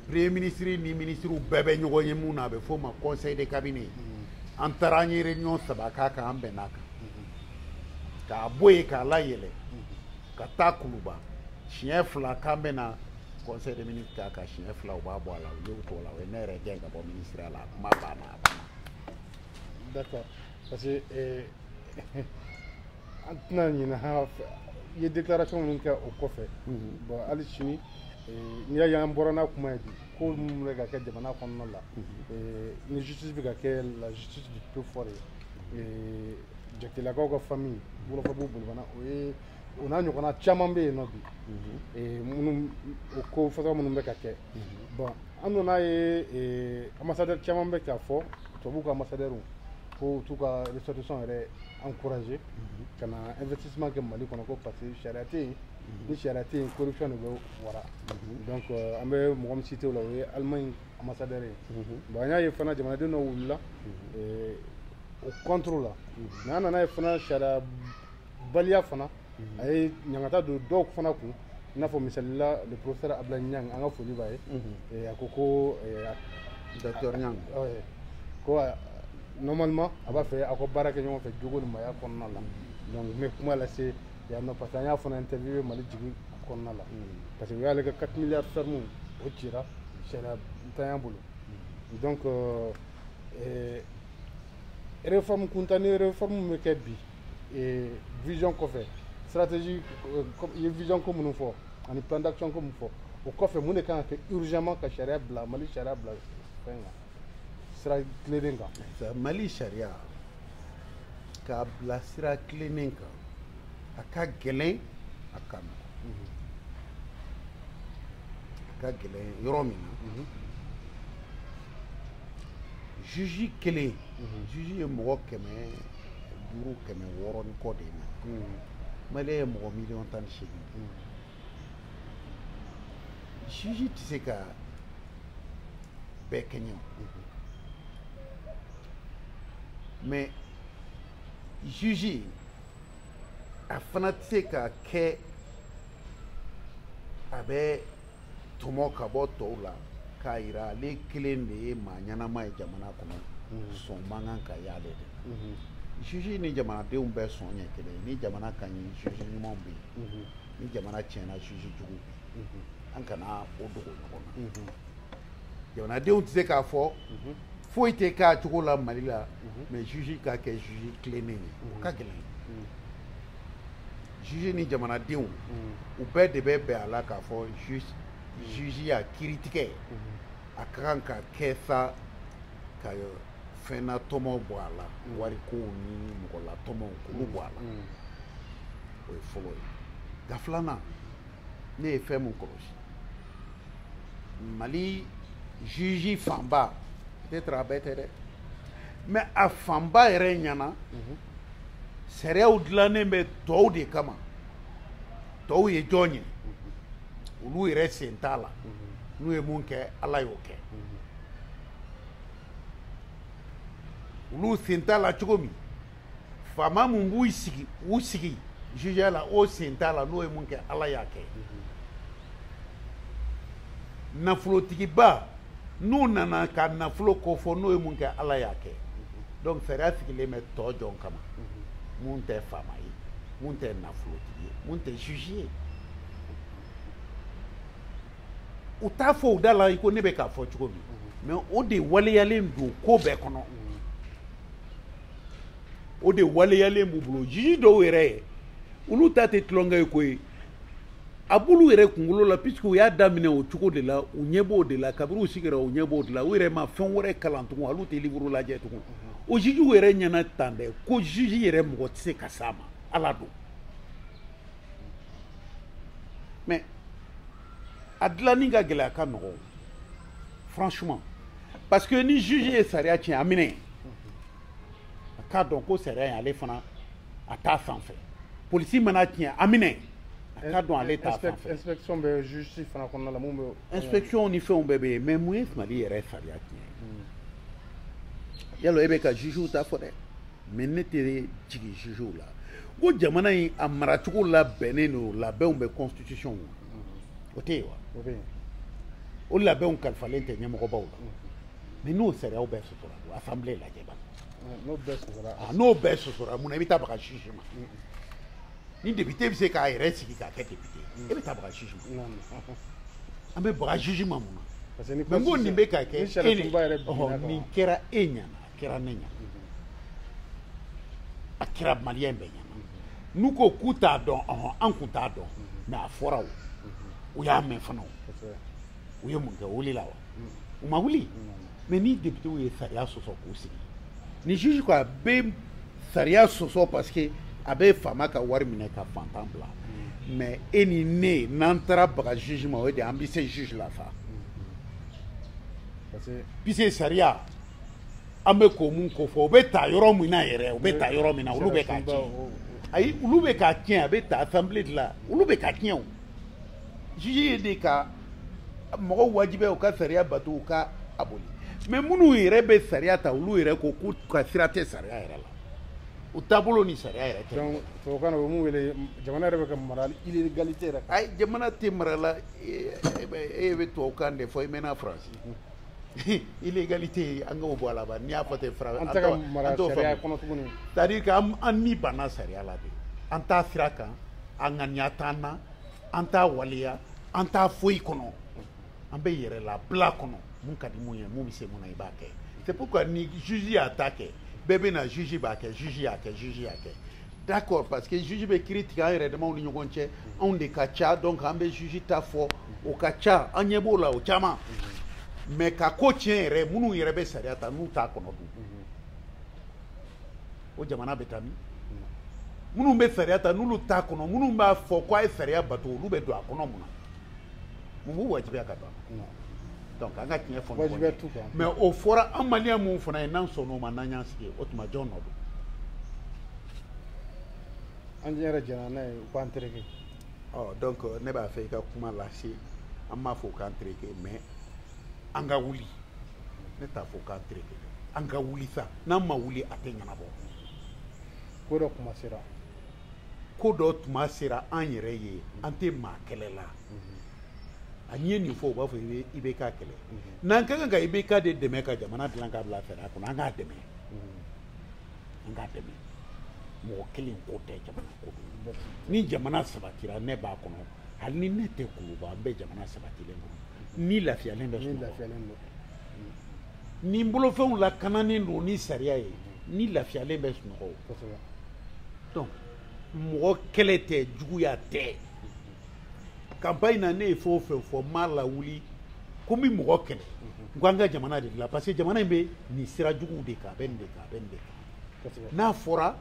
premier ministre ni ministrew bɛɛ bɛ ɲɔgɔn ye min na a bɛ f'o ma conseil de cabinet an taara an ye réunion saba k'a kan an bɛnna a kan k'a bɔ yen k'a layɛlɛ ka taa kuluba siɲɛ fila k'an bɛna conseil de ministre k'a kan siɲɛ fila u b'a bɔ a la u y'o t'o la u ye ne yɛrɛ gɛn ka bɔ ministreya la a kuma banna a banna d'accord parce que eh, an tɛna ɲinɛ ha i ye déclaration minnu kɛ o kɔfɛ bon hali sini eh, n'i y'a ye an bɔra n'a kuma ye bi ko minnu bɛ ka kɛ jamana kɔnɔna la eh, ni justice bɛ ka kɛ la justice du plus fort ye eh, jatigilakaw ka famille wolofobugu bolibana o ye o n'a ɲɔgɔnna caman bɛ yen nɔ bi eh, minnu o ko façon minnu bɛ ka kɛ bon an nana ye eh, ambassadeur caman bɛ k'a fɔ tubabu ka ambassadeur k'u t'u ka ressortissants yɛrɛ encourager mhm. ka na investissement kɛ mali kɔnɔ ko parce que sariya tɛ yen mhm. ni sariya tɛ yen corruption de bɛ wara mhm. donc euh, an bɛ mɔgɔ min cité o la o ye allemagne ambassadeur ye bon an y'a ye fana jamanaden dɔ wulila eh, o contre la mais an nana ye fana sariya baliya fana a ye ɲangata don dɔw fana kun i n'a fɔ misalila le professeur abdulayi ɲang an ka foli b'a ye eh, a ko ko eh, docteur ɲang eh, ko ah, normalement a b'a fɛ aw ka baara kɛ ɲɔgɔn fɛ jogo ni maaya kɔnɔna la donc n bɛ kuma lase yan nɔ parce que an y'a fana interviewé mali jigin kɔnɔna la parce que u y'ale ka 4 milliards ferme o ci sariyantanya bolo donc euh, eh, réforme kuntan ni réforme bɛ kɛ bi ee vision kɔfɛ stratégie euh, i ye vision ko minnu fɔ ani plan d'action ko min fɔ o kɔfɛ mun de kan ka kɛ urgemment ka sariya bila mali sariya bila fɛn kan sira tilennen kan mali sariya k'a bila sira tilennen kan a ka gɛlɛn a ka nɔgɔ mhm. a ka gɛlɛn yɔrɔ min na mhm. juge kelen mhm. juge ye mɔgɔ kɛmɛ duuru kɛmɛ wɔɔrɔ ni kɔ de ye mais mali ye mɔgɔ miliyɔn tan ni seegin juge tɛ se ka bɛɛ kɛɲɛ mais juge a fana tɛ se ka kɛ a bɛ tɔmɔ ka bɔ tɔw la k'a yira ale kelen de ye maa ɲɛnama ye jamana kɔnɔ mhm. sɔn man kan ka y'ale de la mhm. juge ni jamanadenw bɛɛ sɔn ye kelen ni jamana ka ɲi juge ɲumanw bɛ yen mhm. ni jamana tiɲɛna juge jugu bɛ yen an kana o dogo ɲɔgɔn na jamanadenw tɛ se k'a fɔ foyi tɛ k'a cogo la mali la mais juge ka kɛ juge tilennen ye o ka gɛlɛn juge ni jamanadenw mm. u bɛɛ de bɛ bɛn a la k'a fɔ juge mm. juge y'a kiri tigɛ mm-hmm. a ka kan ka kɛ sa ka fɛnnatɔmɔ bɔ a la mm. warikow ni mɔgɔlatɔmɔw k'olu bɔ a la o ye fɔlɔ ye nka filanan ne ye fɛn min kɔlɔsi mali juge fanba peut-être a bɛɛ tɛ dɛ mais a fanba yɛrɛ ɲɛna mm-hmm. sariyaw dilannen bɛ tɔw de kama tɔw ye jɔn ye olu yɛrɛ sen t'a la n'u ye mun kɛ ala y'o kɛ olu sen t'a la cogo min faama mun b'u sigi u sigi jugeya la o sen t'a la n'o ye mun kɛ ala y'a kɛ nafolotigiba n'u nana ka nafolo kofɔ n'o ye mun kɛ ala y'a kɛ donc sariya sigilen bɛ tɔ jɔn kama mun mhm. tɛ faama ye mun tɛ nafolotigi ye mun tɛ juge ye u t'a fɔ u da la i ko ne bɛ k'a fɔ cogo min mais mhm. o de waleyalen don ko bɛɛ kɔnɔ mhm. o de waleyalen b'u bolo juge dɔw yɛrɛ ye olu ta tɛ tulonkɛ ye ko ye a b'olu yɛrɛ kunkolo la puisque u y'a daminɛ o cogo de la u ɲɛ b'o de la kabiri u sigira u ɲɛ b'o de la u yɛrɛ ma fɛn wɛrɛ kalan tugun hali u tɛ livre lajɛ tugun o jugew yɛrɛ ɲɛna tan dɛ ko juge yɛrɛ mɔgɔ tɛ se ka s'a ma ala don mais a dilanni ka gɛlɛn a ka nɔgɔn franchement parce que ni juge ye sariya tiɲɛ a minɛ a k'a dɔn ko sariya in ale fana a t'a sanfɛ polisi man'a tiɲɛ a minɛ a k'a dɔn ale t'a sanfɛ inspection bɛ justice fana kɔnɔna la mun bɛ inspection ni fɛnw bɛɛ bɛ yen mais mun ye Mali yɛrɛ sariya tiɲɛ hmm. yala e bɛ ka jugew ta fɔ dɛ mais ne tɛ jigin jugew la ko jamana in a maracogo labɛnnen don labɛnw bɛ constitution kɔnɔ hmm. o tɛ yen wa o labɛnw kalifalen tɛ ɲɛmɔgɔbaw la hmm. mais n'o sariyaw bɛɛ assemblée lajɛ ba n'o bɛɛ sosora ah, n'o bɛɛ sosora mun na i bɛ taa baga juge ma ni député bɛ se k'a yɛrɛ sigi k'a kɛ député ye e bɛ taa baga juge ma an bɛ baga juge ma mun na mais n ko nin bɛ ka kɛ e de nin kɛra e ɲɛna a kɛra ne ɲɛna a kɛra malien bɛɛ ɲɛna n'u ko k'u t'a dɔn ɔhɔn an kun t'a dɔn mais a fɔra o u y'a mɛn fana o u ye mun kɛ u wulila wa u ma wuli mais ni deputew ye sariya sɔsɔ k'u sigi ni juge ko a bɛ sariya sɔsɔ parce que a bɛ faama ka wari minɛ ka fantan bila mais e ni ne n'an taara baga juge ma o de an bɛ se juge la sa puisque sariya an bɛ k'o mun ko fɔ o bɛ ta yɔrɔ min na yɛrɛ o bɛ ta yɔrɔ min na olu bɛ k'a tiɲɛ ayi olu bɛ k'a tiɲɛ a bɛ ta assemblée de la olu bɛ k'a tiɲɛ o juge ye de ka mɔgɔw wajibiya u ka sariya bato u ka a boli mais minnu yɛrɛ bɛ sariya ta olu yɛrɛ ko k'u ka sira tɛ sariya yɛrɛ la u taabolo ni sariya yɛrɛ tɛ donc tubabukan na o mun wele jamana yɛrɛ bɛ ka mara illégalité yɛrɛ ayi jamana tɛ mara la e bɛ tubabukan de fɔ i mɛnna faransi illégalité an k'o bɔ a la ba n'i y'a fɔ ten fara an tɛ ka mara sariya kɔnɔ tuguni c'est à dire que an ni banna sariya la de an t'a sira kan a ŋaniya t'an na an t'a waleya an t'a foyi kɔnɔ an bɛ yɛrɛlabila kɔnɔ mun ka di mun ye mun bɛ se mun na i b'a kɛ c'est pourquoi ni juge y'a ta kɛ bɛɛ bɛ na juge b'a kɛ juge y'a kɛ juge y'a kɛ d'accord parce que juge bɛ kiri tigɛ an yɛrɛ damaw ni ɲɔgɔn cɛ anw de ka ca donc an bɛ juge ta fɔ o ka ca an ɲɛ b'o la o caman mais ka ko tiɲɛ yɛrɛ minnu yɛrɛ bɛ sariya ta n'u t'a kɔnɔ dun o jamana bɛ taa min minnu bɛ sariya ta n'olu t'a kɔnɔ minnu b'a fɔ ko a ye sariya bato olu bɛ don a kɔnɔ mun na mun b'u wajibiya ka ban donc an ka tiɲɛ fɔ wajibiya t'u kan mais o fɔra an maliyɛnw fana ye n'an sɔnna o ma n'an y'an sigi o tuma jɔn nɔ don an yɛrɛ jɛnna n'a ye u k'an tereke ɔ donc ne b'a fɛ i ka kuma lase an b'a fɔ u k'an tereke mais an ka wuli ne t'a fɔ u k'an tereke an ka wuli sa n'an ma wuli a tɛ ɲɛnabɔ ko dɔ tuma sera ko dɔ tuma sera an yɛrɛ ye an tɛ maa kɛlɛ la a n'i ye nin fɔ u b'a fɔ i bɛ i bɛ k'a kɛlɛ n'an ka kan ka i bɛ k'a de dɛmɛ ka jamana dilan ka bila fɛɛrɛ kɔnɔ an k'a dɛmɛ an k'a dɛmɛ mɔgɔ kelen ko tɛ jamana ko don ni jamana sabatira ne b'a kɔnɔ hali ni ne tɛ kuluba an bɛ jamana sabatilen kɔnɔ ne lafiyalen bɛ sunɔgɔ ne bolofɛnw lakananen don ni sariya ye ne lafiyalen bɛ sunɔgɔ kosɛbɛ donc mɔgɔ kɛlɛ tɛ juguya tɛ campagne na ne ye fɛn o fɛn fɔ n m'a lawuli ko n bɛ mɔgɔ kɛlɛ n ko an ka jamana de dilan parce que jamana in bɛ nin sira juguw de kan a bɛ nin de kan a bɛ nin de kan n'a fɔra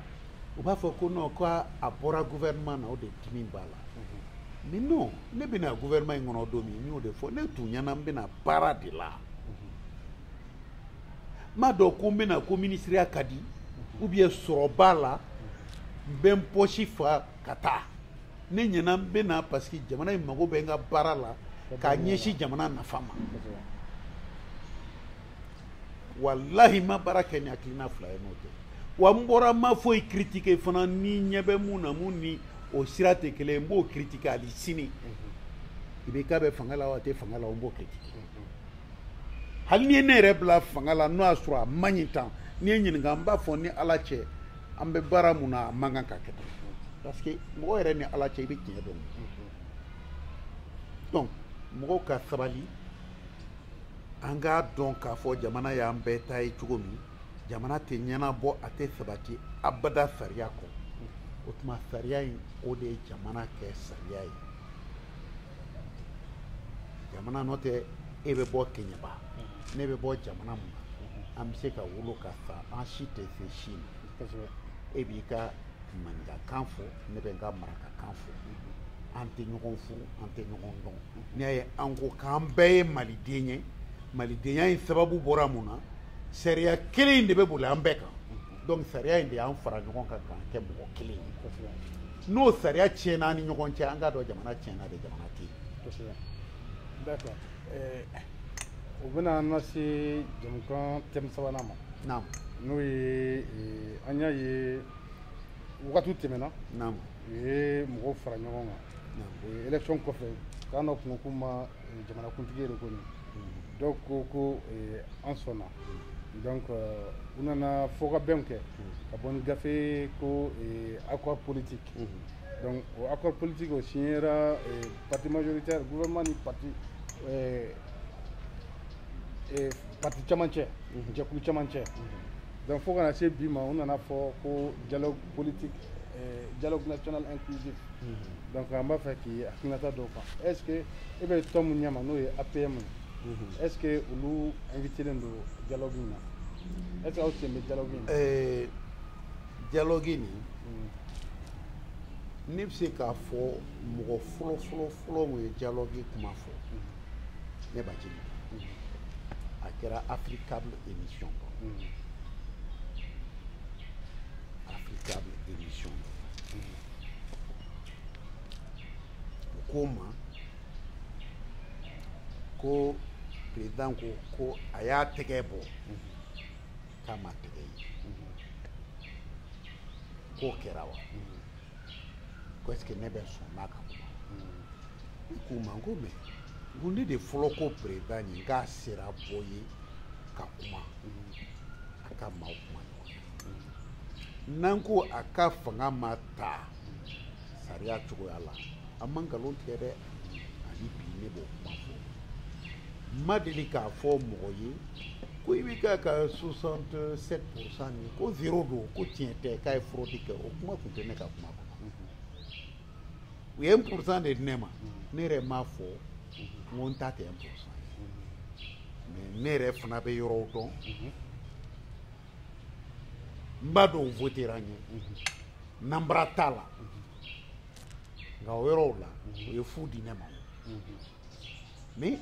u b'a fɔ ko non ko a bɔra gouvernement na o de dimi b'a la mais non ne bɛ na gouvernement in kɔnɔ don min n y'o de fɔ ne tun ɲɛ na n bɛ na baara de la n ma don ko n bɛna ko minisiriya ka di ou bien sɔrɔ b'a la n bɛ n pɔsi fa ka taa ne ɲɛna n bɛna parce que jamana in mago bɛ n ka baara la k'a ɲɛsin jamana nafa ma walahi n ma baara kɛ ni hakilina fila ye n'o tɛ wa n bɔra n ma foyi critiquer fana ne ɲɛ bɛ mun na mun ni o sira tɛ kelen ye n b'o critiquer hali sini i bɛ k'a bɛ fanga la wa a tɛ fanga la o n b'o critiquer hali n'i ye ne yɛrɛ bila fanga la n'o y'a sɔrɔ a man ɲi tan n'i ye n ɲininka n b'a fɔ ni ala cɛ an bɛ baara mun na a man kan ka kɛ tan parce que mɔgɔ yɛrɛ ni ala cɛ i bɛ tiɲɛ dɔn donc mɔgɔw ka sabali an k'a dɔn k'a fɔ jamana y'an bɛɛ ta ye cogo min jamana tɛ ɲɛnabɔ a tɛ sabati abada sariya kɔ o tuma sariya in o de ye jamana kɛ sariya ye jamana n'o tɛ e bɛ bɔ keɲɛba mhm. ne bɛ bɔ jamana mun na an bɛ se ka wolo ka sa an si tɛ se si ma e b'i ka maninkakan fɔ ne bɛ n ka marakakan fɔ an tɛ ɲɔgɔn furu an tɛ ɲɔgɔn dɔn n'i y'a ye an ko k'an bɛɛ ye maliden ye malidenya in sababu bɔra mun na sariya kelen in de bɛ boli an bɛɛ kan donc sariya in de y'an fara ɲɔgɔn kan k'an kɛ mɔgɔ kelen ye n'o sariya tiɲɛna an ni ɲɔgɔn cɛ an k'a dɔn jamana tiɲɛna dɛ jamana tɛ yen d'accord eh, o bɛna an lase jɛmukan thème sabanan ma naam n'o ye eh, an y'a ye wagati tɛmɛna naam u ye mɔgɔw fara ɲɔgɔn kan o ye élection kɔfɛ k'an dɔ kungo kuma jamanakuntigi yɛrɛ kɔni dɔw ko ko eh, an sɔnna donc euh, u nana fɔkabɛnw kɛ ka bɔ ni gafe ko eh, accord politique donc o accord politique o signera eh, parti majoritaire gouvernement ni parti eh, eh, parti caman cɛ jɛkulu caman cɛ donc fo ka na se bi ma u nana fɔ ko dialogue politique euh, dialogue national inclusif mm-hmm. donc an b'a fɛ k'i hakilinata dɔn o kan est ce que e bɛ tɔn min ɲɛma n'o ye apm ye mm-hmm. est ce que olu invitelen don dialogue in na est ce que aw sen bɛ dialogue in na euh, dialogue nin mm. ne bɛ se k'a fɔ mɔgɔ fɔlɔ fɔlɔ fɔlɔ min ye dialogue kuma fɔ mm-hmm. ne b'a jigi a kɛra africable émission kɔnɔ koma ko president ko ko a y'a tɛgɛ bɔ k'an ma tɛgɛ ye k'o kɛra wa ko est ce que ne bɛ sɔn n'a ka kuma ne k'u ma n ko mais n ko ne de fɔlɔ ko president ye n k'a sera bɔ ye ka kuma a ka maaw kuma ɲɔgɔn n'an ko a ka fanga ma ta sariya cogoya la an ma nkalon tigɛ dɛ ani bi ne b'o kuma fɔ n ma deli k'a fɔ mɔgɔ ye ko IBK ka 67 pourcent nin ko zero don ko tiɲɛ tɛ k'a ye fraude kɛ o kuma tun tɛ ne ka kuma kɔnɔ u ye 1 pourcent de di ne ma ne yɛrɛ m'a fɔ n ko n ta tɛ 1 pourcent ye mais ne yɛrɛ fana bɛ yɔrɔw dɔn n b'a dɔn votera n ye nanbara t'a la nka o yɔrɔw la u ye fu di ne ma mais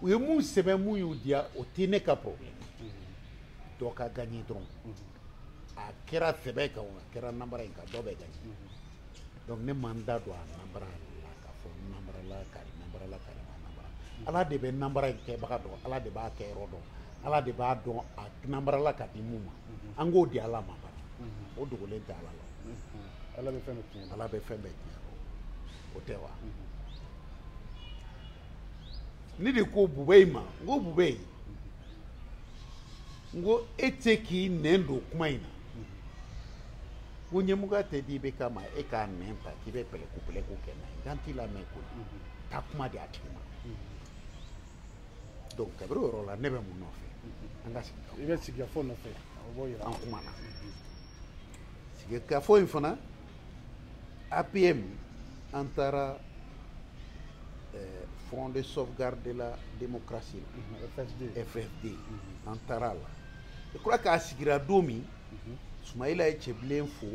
u ye mun sɛbɛn mun y'u diya o tɛ ne ka problème dɔ ka gagné dɔrɔn a kɛra sɛbɛ kan o a kɛra nanbara in kan dɔ bɛ gagné donc ne ma n da don a nanbara la k'a fɔ n nanbarala kari nanbarala kari ma nanbara ala de bɛ nanbara in kɛbaga dɔn ala de b'a kɛyɔrɔ dɔn ala de b'a dɔn a nanbarala ka di min ma an k'o di ala ma a banna o dogolen tɛ ala la ala bɛ fɛn bɛɛ tiɲɛ ala bɛ fɛn bɛɛ tiɲɛ o tɛ wa ne de ko Boubèye ma n ko Boubèye n ko e tɛ se k'i nɛn don kuma in na n ko ɲɛmɔgɔya tɛ di IBK ma e k'i nɛn ta k'i bɛ pɛlɛku pɛlɛku kɛ n'a ye n k'an t'i lamɛn koyi taa kuma di a tigi ma donc kabiri o yɔrɔ la ne bɛ mun nɔfɛ an ka sigikafɔ i bɛ sigikafɔ nɔfɛ an kumana sigikafɔ in fana APM an taara eh, Front de sauvegarde de la démocratie la FSD FSD an taara a la je crois k'a sigira don min Sumayila ye Cɛbilen fo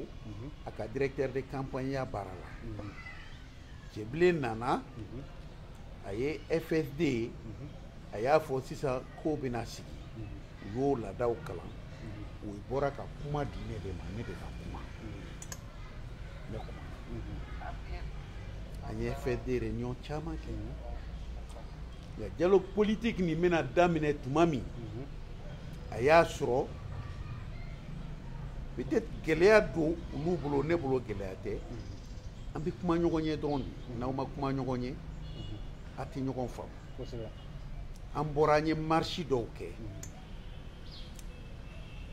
a ka directeur de campagne ya baara la Cɛbilen nana a ye FSD a y'a fɔ sisan k'o bɛna sigi u y'o laadaw kalan u bɔra ka kuma di ne de ma ne de ka kuma ne kuma an ye fɛ de réunion caman kɛ nka dialogue politique nin bɛna daminɛ tuma min a y'a sɔrɔ peut-être gɛlɛya don olu bolo ne bolo gɛlɛya tɛ an bɛ kuma ɲɔgɔn ye dɔrɔn de n'aw ma kuma ɲɔgɔn ye aw tɛ ɲɔgɔn faamu an bɔra an ye marisi dɔw kɛ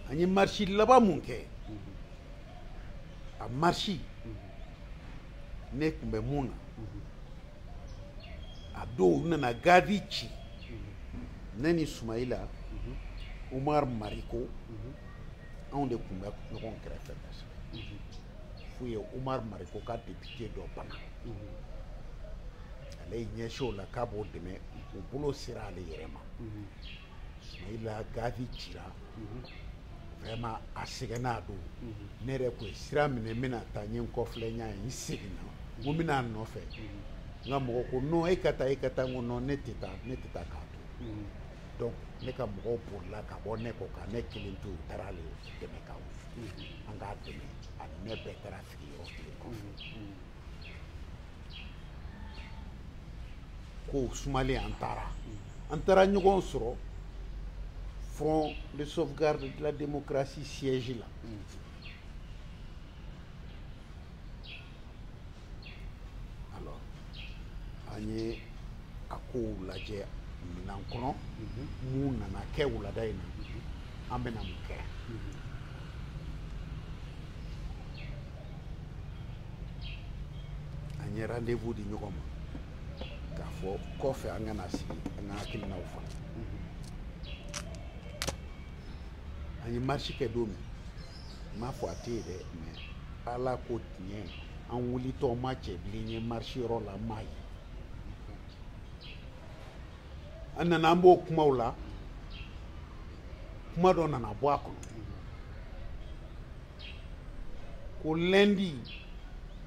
an ye marisi laban mun kɛ a marisi ne tun bɛ mun na a don u nana gazi ci ne ni sumayila umar mariko anw de tun bɛ ɲɔgɔn kɛrɛfɛ kosɛbɛ f'u ye umar mariko ka depite dɔ bana ale ye ɲɛsin o la k'a b'o dɛmɛ u bolo sera ale yɛrɛ ma sumayila gazi cira vraiment a sɛgɛnna a don ne yɛrɛ tun ye sira minɛ n bɛna taa n ye n kɔfilɛ n y'a ye n seginna n ko n bɛna a nɔfɛ n ka mɔgɔ ko non e ka taa e ka taa n ko non ne tɛ taa ne tɛ taa k'a to donc ne ka mɔgɔw bolila ka bɔ ne kɔ ka ne kelen to u taara ale dɛmɛ ka an k'a dɛmɛ a ɲɛ bɛɛ taara sigi yɔrɔ kelen kɔfɛ ko sumalen an taara an taara ɲɔgɔn sɔrɔ front de sauvegarde de la démocratie siège la alors an ye a kow lajɛ minan kɔnɔ mun nana kɛ wulada in na an bɛna mun kɛ an ye rendez-vous di ɲɔgɔn ma k'a fɔ kɔfɛ an ka na sigi an k'an hakilinaw fɔ an ye marche kɛ don min n m'a fɔ a tɛ yen dɛ mɛ ala ko tiɲɛ an wulitɔ ma cɛbilen ye marisi yɔrɔ la n m'a ye an nana an b'o kumaw la kuma dɔ nana bɔ a kɔnɔ ko lɛndi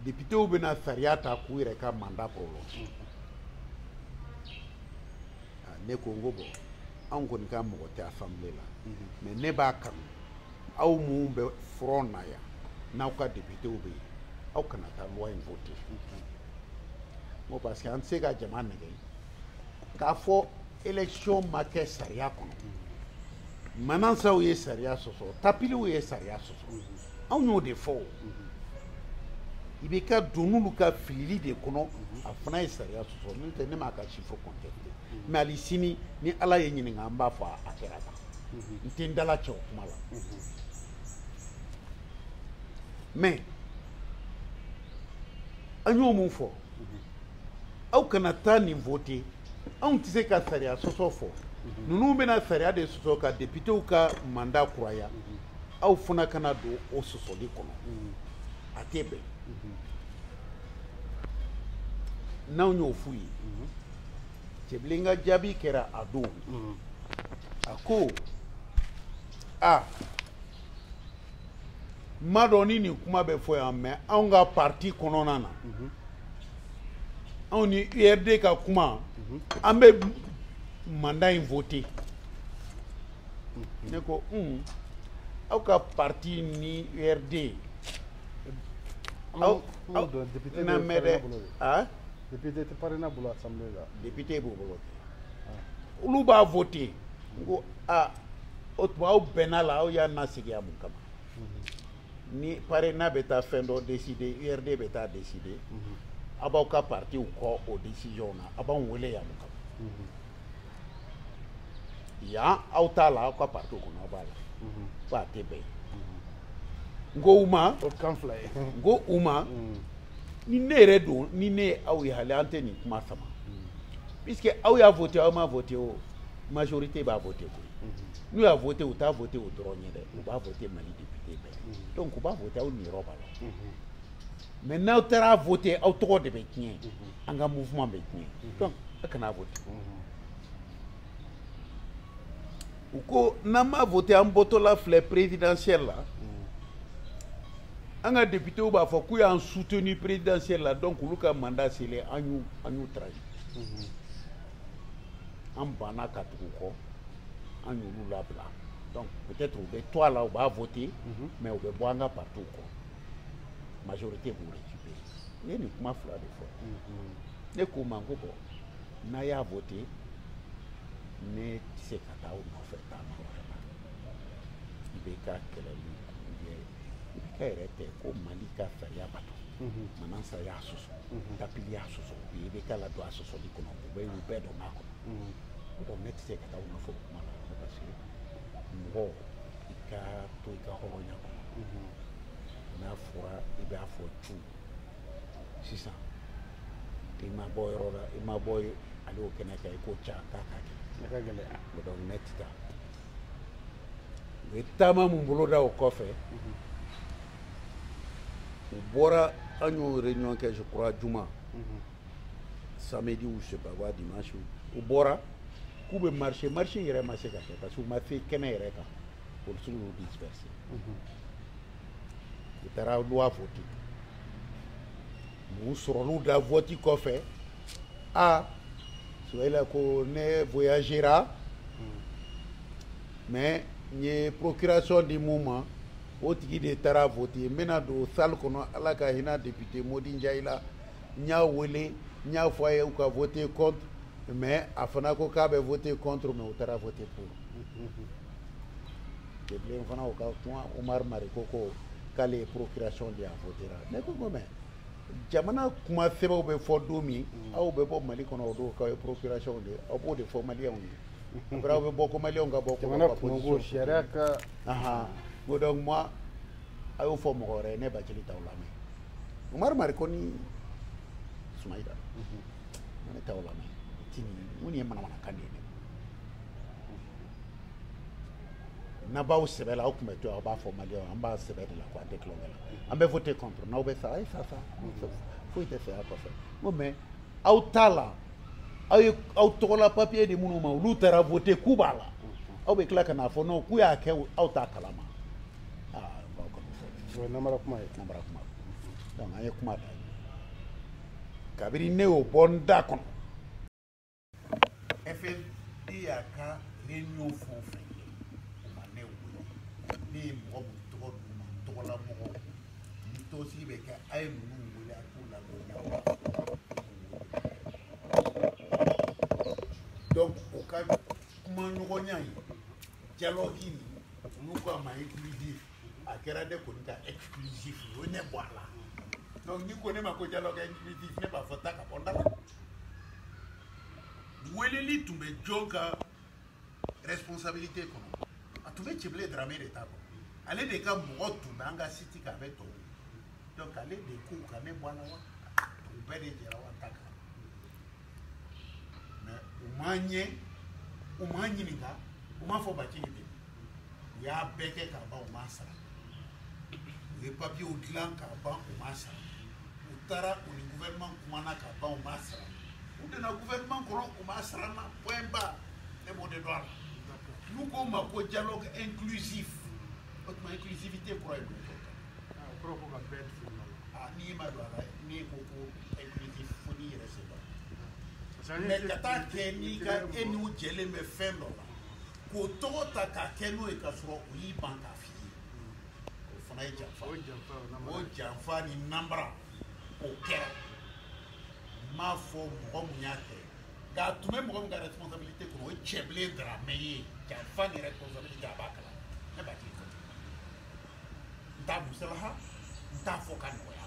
depitew bɛna sariya ta k'u yɛrɛ ka manda prolonger ne ko n ko bɔn anw kɔni ka mɔgɔ tɛ asanbile la mɛ ne b'a kanu aw minnu bɛ front na yan n'aw ka députés bɛ yen aw kana taa loi in voter bon parce que an tɛ se ka jama nɛgɛn k'a fɔ élection ma kɛ sariya kɔnɔ manasaw ye sariya sɔsɔ tapiliw ye sariya sɔsɔ anw y'o de fɔ o i bɛ ka don olu ka filili de kɔnɔ a fana ye sariya sɔsɔ n'o tɛ ne m'a ka chiffre contester mais ali sini ni ala ye n ɲininka n b'a fɔ a kɛra tan n tɛ n dalacɛ o kuma la mais an y'o min fɔ aw kana taa nin vote anw tɛ se ka sariya sɔsɔ fɔ ninnu bɛna sariya de sɔsɔ ka depitew ka manda kuraya aw fana kana don o sɔsɔli kɔnɔ a tɛ bɛn n'anw y'o f'u ye cɛbilen ka jaabi kɛra a don mm. a ko a ma dɔn ni nin kuma bɛ fɔ yan mais aw ka parti kɔnɔna na mm-hmm. aw ni urd ka kuma mm-hmm. an bɛ mandat in vote mm-hmm. ne ko un aw ka parti ni urd aw aw na mɛ dɛ député tɛ PARENA bolo assemblée la député b'o bolo ah. olu b'a voté n ko aa o tuma aw bɛnna a la aw y'an nasigi yan mun kama mhm. ni PARENA bɛ taa fɛn dɔ décider URD bɛ taa décider mhm. aw b'aw ka partiw kɔ o décision na aw b'anw wele yan mun kama mhm. yan aw t'a la aw ka partiw kɔnɔ aw b'a la ko a tɛ bɛn n ko u ma n ko u ma ni ne yɛrɛ don ni ne ye aw ye hali an tɛ nin kuma sama puisque aw y'a vote aw m'a vote o majorité b'a vote koyi n'u y'a vote u t'a vote o dɔrɔn ye dɛ u b'a vote mali député bɛɛ donc u b'a vote aw niyɔrɔ b'a la mais n'aw taara vote aw tɔgɔ de bɛ tiɲɛ an ka mouvement bɛ tiɲɛ donc a kana vote u ko n'an m'a vote an bɔtɔla filɛ présidentielle la an ka députéw b'a fɔ k'u y'an soutenir présidentielle la donc olu ka mandat selen an y'u an y'u trahi an banna ka tugu u kɔ an y'olu labila donc peut-être u bɛ to a la u b'a voter mais u bɛ bɔ an ka partiw kɔ majorité b'u récupérer ne ye nin kuma fila de fɔ ne k'u ma n ko bon n'aw y'a vote ne tɛ se ka taa aw nɔfɛ taama wɛrɛ la i bɛ ka kɛlɛli ye ka yɛrɛ tɛ ko mali ka sariya bato mhm. manassa y'a sɔsɔ mhm. tapili y'a sɔsɔ u ye i bɛ k'a ladon a sɔsɔli kɔnɔ u bɛ u bɛɛ dɔn b'a kɔnɔ mhm. donc ne tɛ se ka taa u nɔfɛ o kuma la parce que mɔgɔ i ka to i ka hɔrɔnya kɔnɔ n'a fɔra i b'a fɔ tu sisan i ma bɔ yɔrɔ la i ma bɔ ale o kɛnɛ kan i k'o ca k'a ka kɛ ne ka gɛlɛya o donc ne tɛ taa u ye taama min boloda o kɔfɛ mhm. u bɔra an y'o réunion kɛ je crois juma mhm. samedi ou je sais pas quoi dimanche u bɔra k'u bɛ marché marché yɛrɛ ma se ka kɛ parce que u ma se kɛnɛ yɛrɛ kan polisiw y'u disperser mhm. u taara loi vote u sɔrɔliw da vote kɔfɛ a sumayila ko ne voyagera mais n ye procuration di min ma o tigi de taara vote n bɛna don salle kɔnɔ ala ka hinɛ député modi njayi la n y'a wele n y'a fɔ a ye u ka vote contre mais a fana ko k'a bɛ vote contre mais u taara vote pour Bilen fana ka kuma Umaru Mariko ko k'ale ye procuration di a voter la ne ko ko mais jamana kuma sɛbɛw bɛ fɔ don min mm. aw bɛ bɔ Mali kɔnɔ o don k'aw ye procuration di aw b'o de fɔ maliyɛnw ye après aw bɛ bɔ ko maliyɛnw ka bɔ jamana kunko sariya ka ahan ko donc moi a y'o fɔ mɔgɔ wɛrɛ ye ne Bacili t'aw lamɛn Umaru Mariko ni Sumayila mm-hmm. ne t'aw lamɛn tini mun ye manamanakan de ye n'aw b'aw sɛbɛ la aw tun bɛ to aw b'a fɔ maliyɛnw an b'an sɛbɛ de la ko an tɛ tulonkɛ la an bɛ vote contre n'aw bɛ sa a ye sa sa foyi tɛ saya kɔfɛ n ko mais aw t'a la aw ye aw tɔgɔla papiye di minnu ma olu taara vote k'u b'a la aw bɛ tila ka n'a fɔ non k'u y'a kɛ aw t'a kalama aa b'aw ka fɔ o ye namara kuma ye namara kuma donc an ye kuma ta kabiri ne y'o bɔ n da kɔnɔ efe ne y'a ka réunion fɛn o fɛn kɛ u ma ne wele ne ye mɔgɔ min tɔgɔ d'u ma n tɔgɔla mɔgɔ ni tɔnsigi bɛ kɛ a ye ninnu wele a k'u ladɔnniya donc o ka kuma ɲɔgɔnya ye dialogue nin olu ko a ma inclusif a kɛra ne kɔni ka exclusif u ye ne bɔ a la donc n'i ko ne ma ko dialogue inclusif ne b'a fɔ taa ka bɔ n da la weleli tun bɛ jɔn ka responsabilité kɔnɔ a tun bɛ cebile darame de ta kɔnɔ ale de ka mɔgɔ tun bɛ an ka siti kan a bɛ tɔw donc ale de ko ka ne bɔ a la wa u bɛɛ de jɛra wa n t'a kalama u ma n ɲɛ u ma n ɲininka u m'a fɔ bacili ye u y'a bɛɛ kɛ k'a ban u m'a sara u ye papiyew dilan k'a ban u m'a sara u taara u ni gouvernement kumana k'a ban u m'a sara u donna gouvernement kɔnɔ u m'a sara n na point ba ne b'o de dɔn a la n'u k'o ma ko dialogue inclusif o tuma inclusivité kɔrɔ ye mun ye ah, o kɔrɔ ko ka bɛɛ fili la ah, n'i ma don a la n'i ko ko inclusif fo n'i yɛrɛ sen don mais ka taa kɛ n'i ka e n'u jɛlen bɛ fɛn dɔ la k'o tɔgɔ ta k'a kɛ n'o ye ka sɔrɔ u y'i ban k'a f'i ye o fana ye janfa o janfa ni nanbara o kɛra n m'a fɔ mɔgɔ mun y'a kɛ nka a tun bɛ mɔgɔ min ka responsabilité kɔnɔ o ye cɛbilen daramɛ ye janfa ni responsabilité a b'a kalan ne b'a k'i kɔ n t'a musalaha n t'a fɔ ka nɔgɔya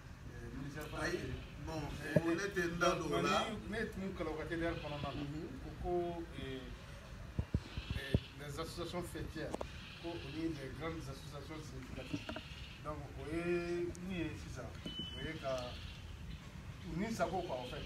ayi bon ne tɛ n da don o la ne tun kalan ka teliya kɔnɔna na ko ko les associations faîtières ko o ni les grandes associations significatives donc o ye min ye sisan o ye ka u ni sago quoi en fait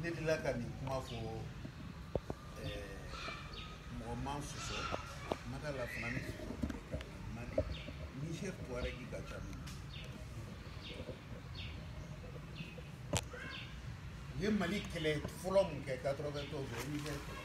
ne delila ka nin kuma fɔ mɔgɔ ma n sɔsɔ ma da la fana ne mali ni chef tuaregi ka ca min u ye mali kɛlɛ fɔlɔ mun kɛ 91 o ye niger kɛlɛ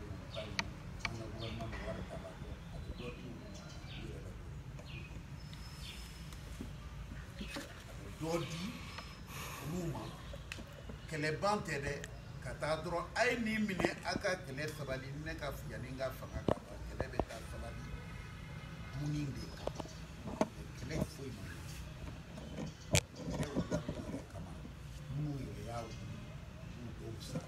dɔ di olu ma kɛlɛ ban tɛ dɛ ka taa dɔrɔn a ye nin minɛ a ka kɛlɛ sabali ne ka fo yanni n ka fanga ka ban kɛlɛ bɛ taa sabali dumuni de kan kɛlɛ foyi ma kɛlɛ wulila minnu yɛrɛ kama minnu yɛrɛ y'a wuli olu dɔw sara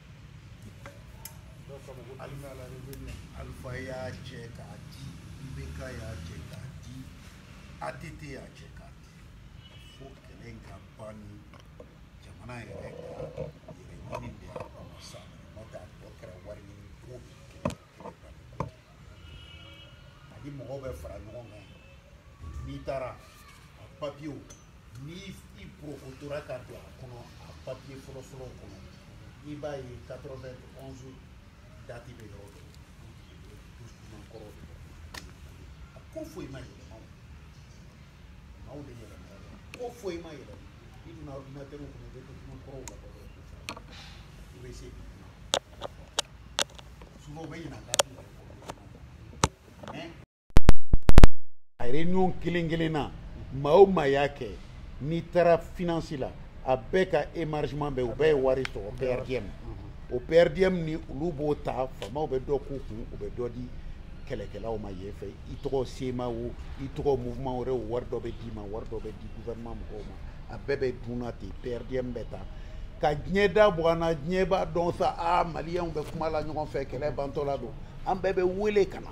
alufa y'a cɛ k'a di ibeka y'a cɛ k'a di att y'a cɛ k'a di fo kɛlɛ in ka ban ni jamana yɛrɛ ka hɛrɛ ɲini de y'a kɔnɔ sa n'o tɛ a tɔ kɛra wari ɲini ko ani mɔgɔw bɛ fara ɲɔgɔn kan n'i taara a papiyew ni i porokotora ka don a kɔnɔ a papiye fɔlɔfɔlɔw kɔnɔ i b'a ye 91 dati bɛ yɔrɔ dɔ document kɔrɔ de a ko foyi ma yɛlɛma o maaw de yɛlɛma ko foyi ma yɛlɛma i donna ordinateur kɔnɔ i bɛ document kɔrɔw labɔ dɛ i bɛ se souvent u bɛ ɲina dati yɛrɛ kɔ mais a réunion kelen kelen na maa o maa y'a kɛ n'i taara finance la a bɛɛ ka émargement bɛ u bɛɛ ye wari sɔrɔ per diem o per diem ni olu b'o ta faamaw bɛ dɔ k'u kun u bɛ dɔ di kɛlɛkɛlaw ma yen fɛ i tɔgɔ CMA o i tɔgɔ mouvement wɛrɛ o wari dɔ bɛ d'i ma wari dɔ bɛ di gouvernement mɔgɔw ma a bɛɛ bɛ dunna ten perdiem bɛ ta ka diɲɛ da bɔ an na diɲɛ b'a dɔn sa a maliyɛnw bɛ kuma la ɲɔgɔn fɛ kɛlɛ bantɔla don an bɛɛ bɛ wele ka na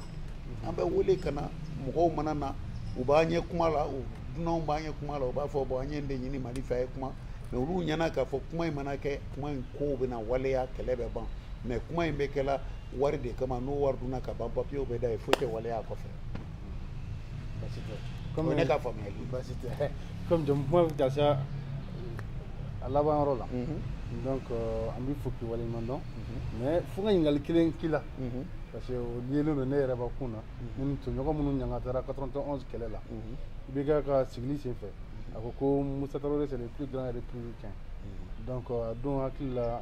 an bɛ wele ka na mɔgɔw mana na u b'an ye kuma la u dunanw b'an ye kuma la u b'a fɔ bon an ye nin de ɲini mali fɛ a ye kuma mɛ olu ɲɛna k'a fɔ kuma in mana kɛ kuma in kow bɛna waleya kɛlɛ bɛ ban mais kuma in bɛ kɛla wari de kama n'o wari dunna ka ban papiyew bɛ da yen foyi tɛ waleya a kɔfɛ basi tɛ comme ne ka faamuyali basi tɛ comme jamu kuma bɛ taa se a laban yɔrɔ la donc euh, an b'i fo k'i waleɲuman dɔn mhm. mais fo n ka ɲininkali kelen k'i la mhm. parce que o liélen don ne yɛrɛ bakun na mhm. ne tɔɲɔgɔn minnu ɲangatara 91 kɛlɛ la IBK ka sigili sen fɛ a ko ko musa tarawele c'est le plus grand républicain donc euh, a don hakili la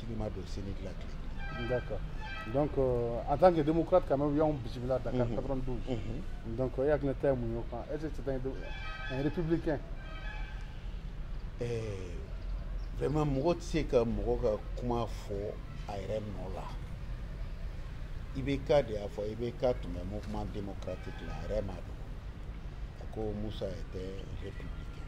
Tigi ma don sini dilan tile. D'accord. Donc euh, en tant que démocrate quand même y'anw bisimila Dakar 92. Mhm. Mhm. Donc e hakilina ta ye mun ye o kan? Est-ce que c'est un, un républicain? Eh, vraiment mɔgɔ tɛ se ka mɔgɔ ka kuma fɔ a yɛrɛ nɔ la. IBK de y'a fɔ IBK tun bɛ mouvement démocratique la a yɛrɛ m'a dɔn. A ko Musa était républicain.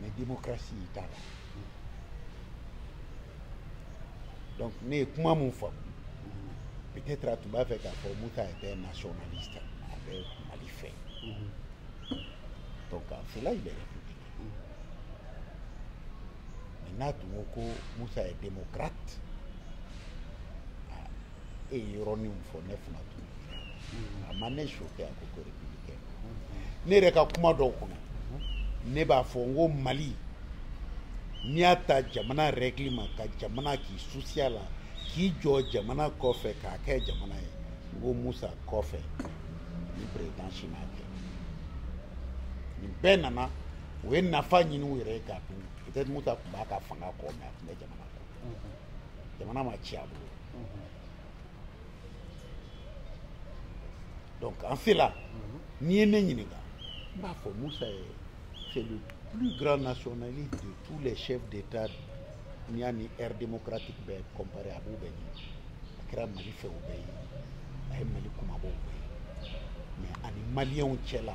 mais démocratie t'a la donc ne ye kuma mun faamu peut-être a tun b'a fɛ k'a fɔ musa était nationaliste a bɛ mali fɛ donc en cela il est républicain mais n'a tun ko ko musa est démocrate e ye yɔrɔninw fɔ ne fana tun a ma ne choqué a ko ko républicain ne yɛrɛ ka kuma dɔw kɔnɔ ne b'a fɔ n ko mali n'i y'a ta jamana règle ma ka jamana k'i susiya la k'i jɔ jamana kɔfɛ k'a kɛ jamana ye n ko musa kɔfɛ ni président si m'a kɛ nin bɛɛ nana u ye nafa ɲini u yɛrɛ ye k'a dun peut-être musa tun b'a ka fanga kɔ mais a tun bɛ jamana kɔ jamana ma ci a bolo donc en cela n'i ye ne ɲininka n b'a fɔ musa ye c'est le plus grand nationaliste de tous les chefs d'état n'i y'a ni ère démocratique bɛɛ comparé a b'u bɛɛ ɲɛ a kɛra mali fɛ u bɛɛ ye a ye mali kumabaw bɛɛ ye mais a ni maliyɛnw cɛla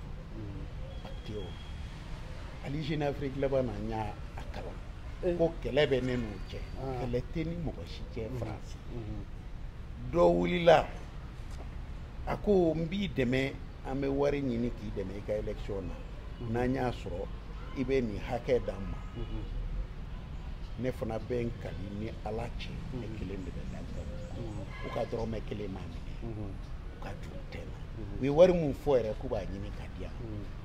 ali jeune afrique laban na n y'a kalan eh. ko kɛlɛ bɛ ne n'u cɛ ah. kɛlɛ tɛ n ni mɔgɔ si cɛ mm-hmm. faransi mm-hmm. dɔ wulila a ko n b'i dɛmɛ an bɛ wari ɲini k'i dɛmɛ i ka élection na mm-hmm. n'an y'a sɔrɔ i bɛ nin hakɛ d'an ma ne fana bɛ n kali n ni ala cɛ ne kelen de bɛ lajɛ u ka dɔrɔmɛ kelen ma minɛ u ye wari min fɔ yɛrɛ k'u b'a ɲini ka di yan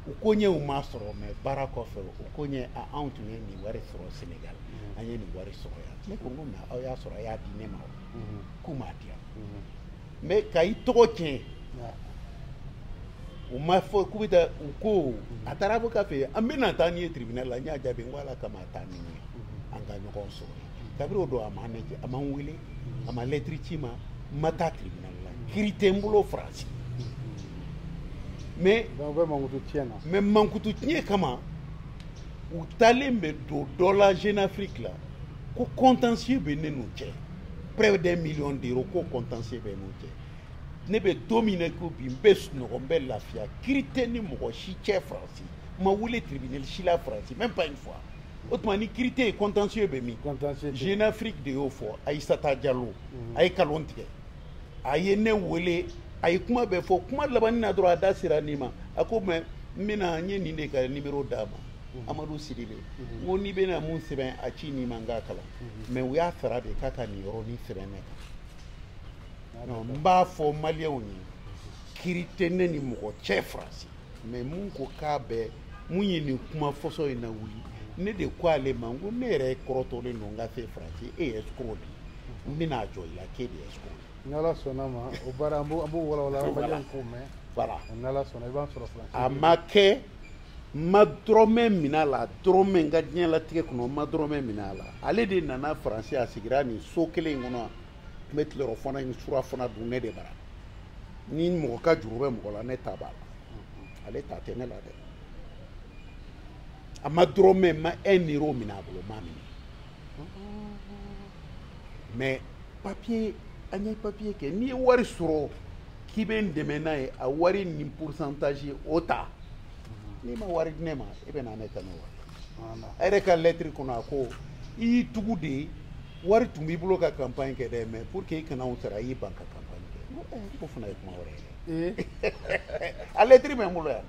u ko ɲɛ u m'a sɔrɔ mɛ baara kɔfɛ u ko ɲɛ anw tun ye nin wari sɔrɔ senegal an ye nin wari sɔrɔ yan ne ko n ko mɛ aw y'a sɔrɔ a y'a di ne ma o k'u m'a di yan mɛ ka i tɔgɔ tiɲɛ u ma fɔ k'u bɛ taa u ko a taara avocat fɛ an bɛna taa n'i ye tribunal la n y'a jaabi n ko ala kama a taa ni n ye an ka ɲɔgɔn sɔrɔ kabiri o don a ma ne a ma n wele a ma lɛtiri ci n ma n ma taa tribunal kiri tɛ n bolo faransi mais mais mankutu tiɲɛ kama u taalen bɛ don dɔ la jeune afrique la ko contentieux bɛ ne n'u cɛ près d'un million d'euros ko contentieux bɛ n'u cɛ ne bɛ don min na i ko bi n bɛ sunɔgɔ n bɛ lafiya kiri tɛ n ni mɔgɔ si cɛ faransi n ma wele tribunal si la faransi même pas une fois o tuma ni kiri tɛ yen contentieux bɛ min jeune afrique de y'o fɔ ayisata jalo a ye kalon tigɛ a ye ne wele a ye kuma bɛɛ fɔ kuma labanni na dɔrɔn a da sera nin ma a ko mɛ n bɛna n ye nin de ka nimero d'a ma mhm. amadu sidibe mhm. n ko n'i bɛna mun sɛbɛn a ci ne ma n k'a kalan mhm. mɛ u y'a sara de k'a ka nin yɔrɔnin sɛbɛn ne kan n b'a fɔ maliyɛnw ye kiri tɛ ne ni mɔgɔ cɛ faransi mɛ mun ko k'a bɛɛ mun ye nin kuma fɔsɔ in nawuli ne de ko ale ma n ko ne yɛrɛ kɔrɔtɔlen don n ka se faransi e ye escroc de n bɛna a jɔ i la k'e de ye escroc ye. ni ala sɔnna ma o baara an b'o walawala an balimaw k'o mɛn. voilà ni ala sɔnna i b'an sɔrɔ faransi. a ma kɛ n ma dɔrɔmɛ minɛ a la dɔrɔmɛ n ka diɲɛlatigɛ kɔnɔ n ma dɔrɔmɛ minɛ a la ale de nana faransi a sigira nin so kelen in kɔnɔ n bɛ tilerɔfana ni surafana dun ne de bara ni mɔgɔ ka juru bɛ mɔgɔ la ne ta b'a la ale ta tɛ ne la dɛ n ma dɔrɔmɛ n ma un euro minɛ a bolo n m'a minɛ mais papier an ye papier kɛ n'i ye wari sɔrɔ k'i bɛ n dɛmɛ n'a ye a wari nin pourcentage o ta n'i ma wari di ne ma e bɛ na ne ta n'o wari a yɛrɛ ka lɛtiri kɔnɔ a ko i y'i tugu de wari tun b'i bolo ka campagne kɛ dɛ mais pour que i kana u sara i y'i ban ka campagne kɛ eh, k'o fana ye kuma wɛrɛ ye eh. a lɛtiri bɛ n bolo yan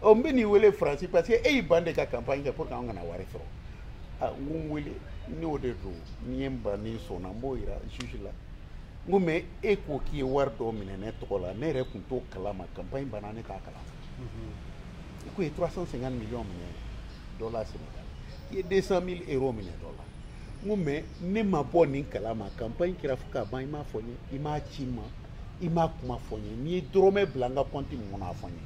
ɔ n bɛ n'i wele faransi parce que e y'i ban de ka campagne kɛ pour que an kana wari sɔrɔ a ah, n ko n wele n'o de don n'i ye n ban ni sɔnna n b'o jira juge la n ko mɛ e ko k'i ye wari dɔ minɛ ne tɔgɔ la ne yɛrɛ tun t'o kalama campagne banna ne t'a kalama mhm. i ko i ye 350 millions minɛ dɔ la sénégal i ye 200 000 euro minɛ dɔ la n ko mɛ ne ma bɔ nin kala ma campagne kɛra fo ka ban i m'a fɔ n ye i m'a ci n ma i m'a kuma fɔ n ye n'i ye dɔrɔmɛ bila n ka kɔnti min kɔnɔ a fɔ n ye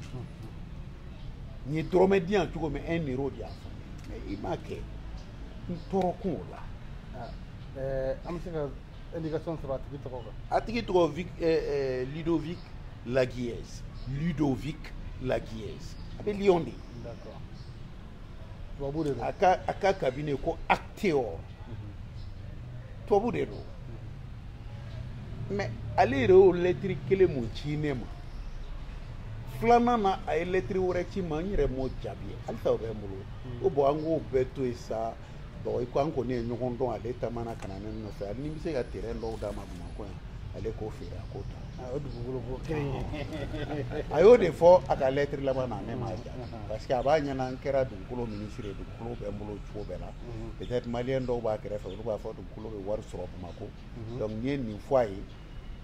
n'i ye dɔrɔmɛ di yan cogo min un euro di a fɔ n ye mɛ i m'a kɛ n tɔɔrɔ kun o la ah, eh, an bɛ se ka indication sɔrɔ a tigi tɔgɔ kan a tigi tɔgɔ vic eh, eh, ludovic laguiese ludovic laguiese a bɛ lyon de d'accord a ka a ka kabine ko Actéo tubabu de don mɛ ale yɛrɛ y'o lɛtiri kelen mun ci ne ma filanan na a ye lɛtiri wɛrɛ ci n ma n yɛrɛ m'o jaabi halisa o bɛ n bolo o bɔn an k'o bɛɛ to yen sa bon i ko an kɔni ye ɲɔgɔn dɔn ale taamana ka na ne nɔfɛ ani ni n bɛ se ka terɛn dɔw d'a ma bamakɔ yan ale k'o feere a k'o ta a y'o dugukolo ko kelen ye a y'o de fɔ a ka lɛtiri laban na ne m'a ja parce que a b'a ɲɛna n kɛra dugukolo minisiri ye dugukolo bɛ n bolo cogo bɛɛ la peut-être maliyɛn dɔw b'a kɛrɛfɛ olu b'a fɔ dugukolo bɛ wari sɔrɔ bamakɔ donc u ye nin fɔ a ye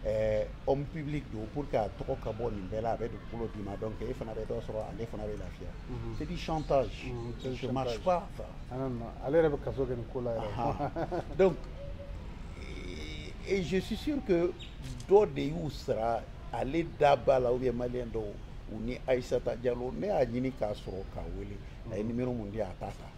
ɛɛ homme public don pour que a tɔgɔ ka bɔ nin bɛɛ la a bɛ dugukolo d'i ma donc e fana bɛ dɔ sɔrɔ ale fana bɛ lafiya mhm. c'est du chantage mhm, ça ne marche pas ça ah, non non ale yɛrɛ bɛ kaso kɛ nin ko la yɛrɛ donc et je suis sûr que dɔ de y'u sara ale da b'a la ou bien malien dɔw u ni Aïssata Diallo ne y'a ɲini k'a sɔrɔ k'a wele a ye mhm. numéro mun di a t'a ta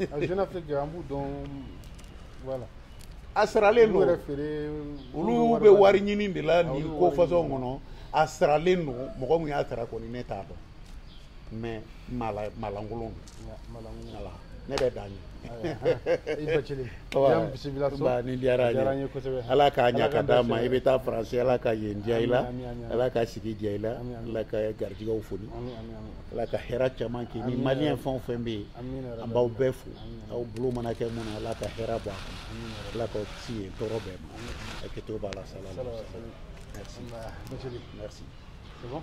a jeune afrique an b'u dɔn voilà a saralen don yɛrɛ feere olu bɛ wari ɲini de la nin ko fasɔn kɔnɔ a saralen don mɔgɔ min y'a sara kɔni ne t'a dɔn mais mala malankolon don voilà ne bɛ dan ɲɛ i bacili yan bisimila so ba nin diyara an ye kosɛbɛ ala k'a ɲa ka d'a ma i bɛ taa faransi ala ka yen diya i la ala ka sigi diya i la ala ka garijigɛw foni ala ka hɛrɛ caman kɛ ni maliyɛn fɛn o fɛn bɛ yen an b'aw bɛɛ fo aw bolo mana kɛ mun na ala ka hɛrɛ bɔ a kɔnɔ ala k'aw kisi yen tɔɔrɔ bɛɛ ma hakɛto b'a la salam merci merci c'est bon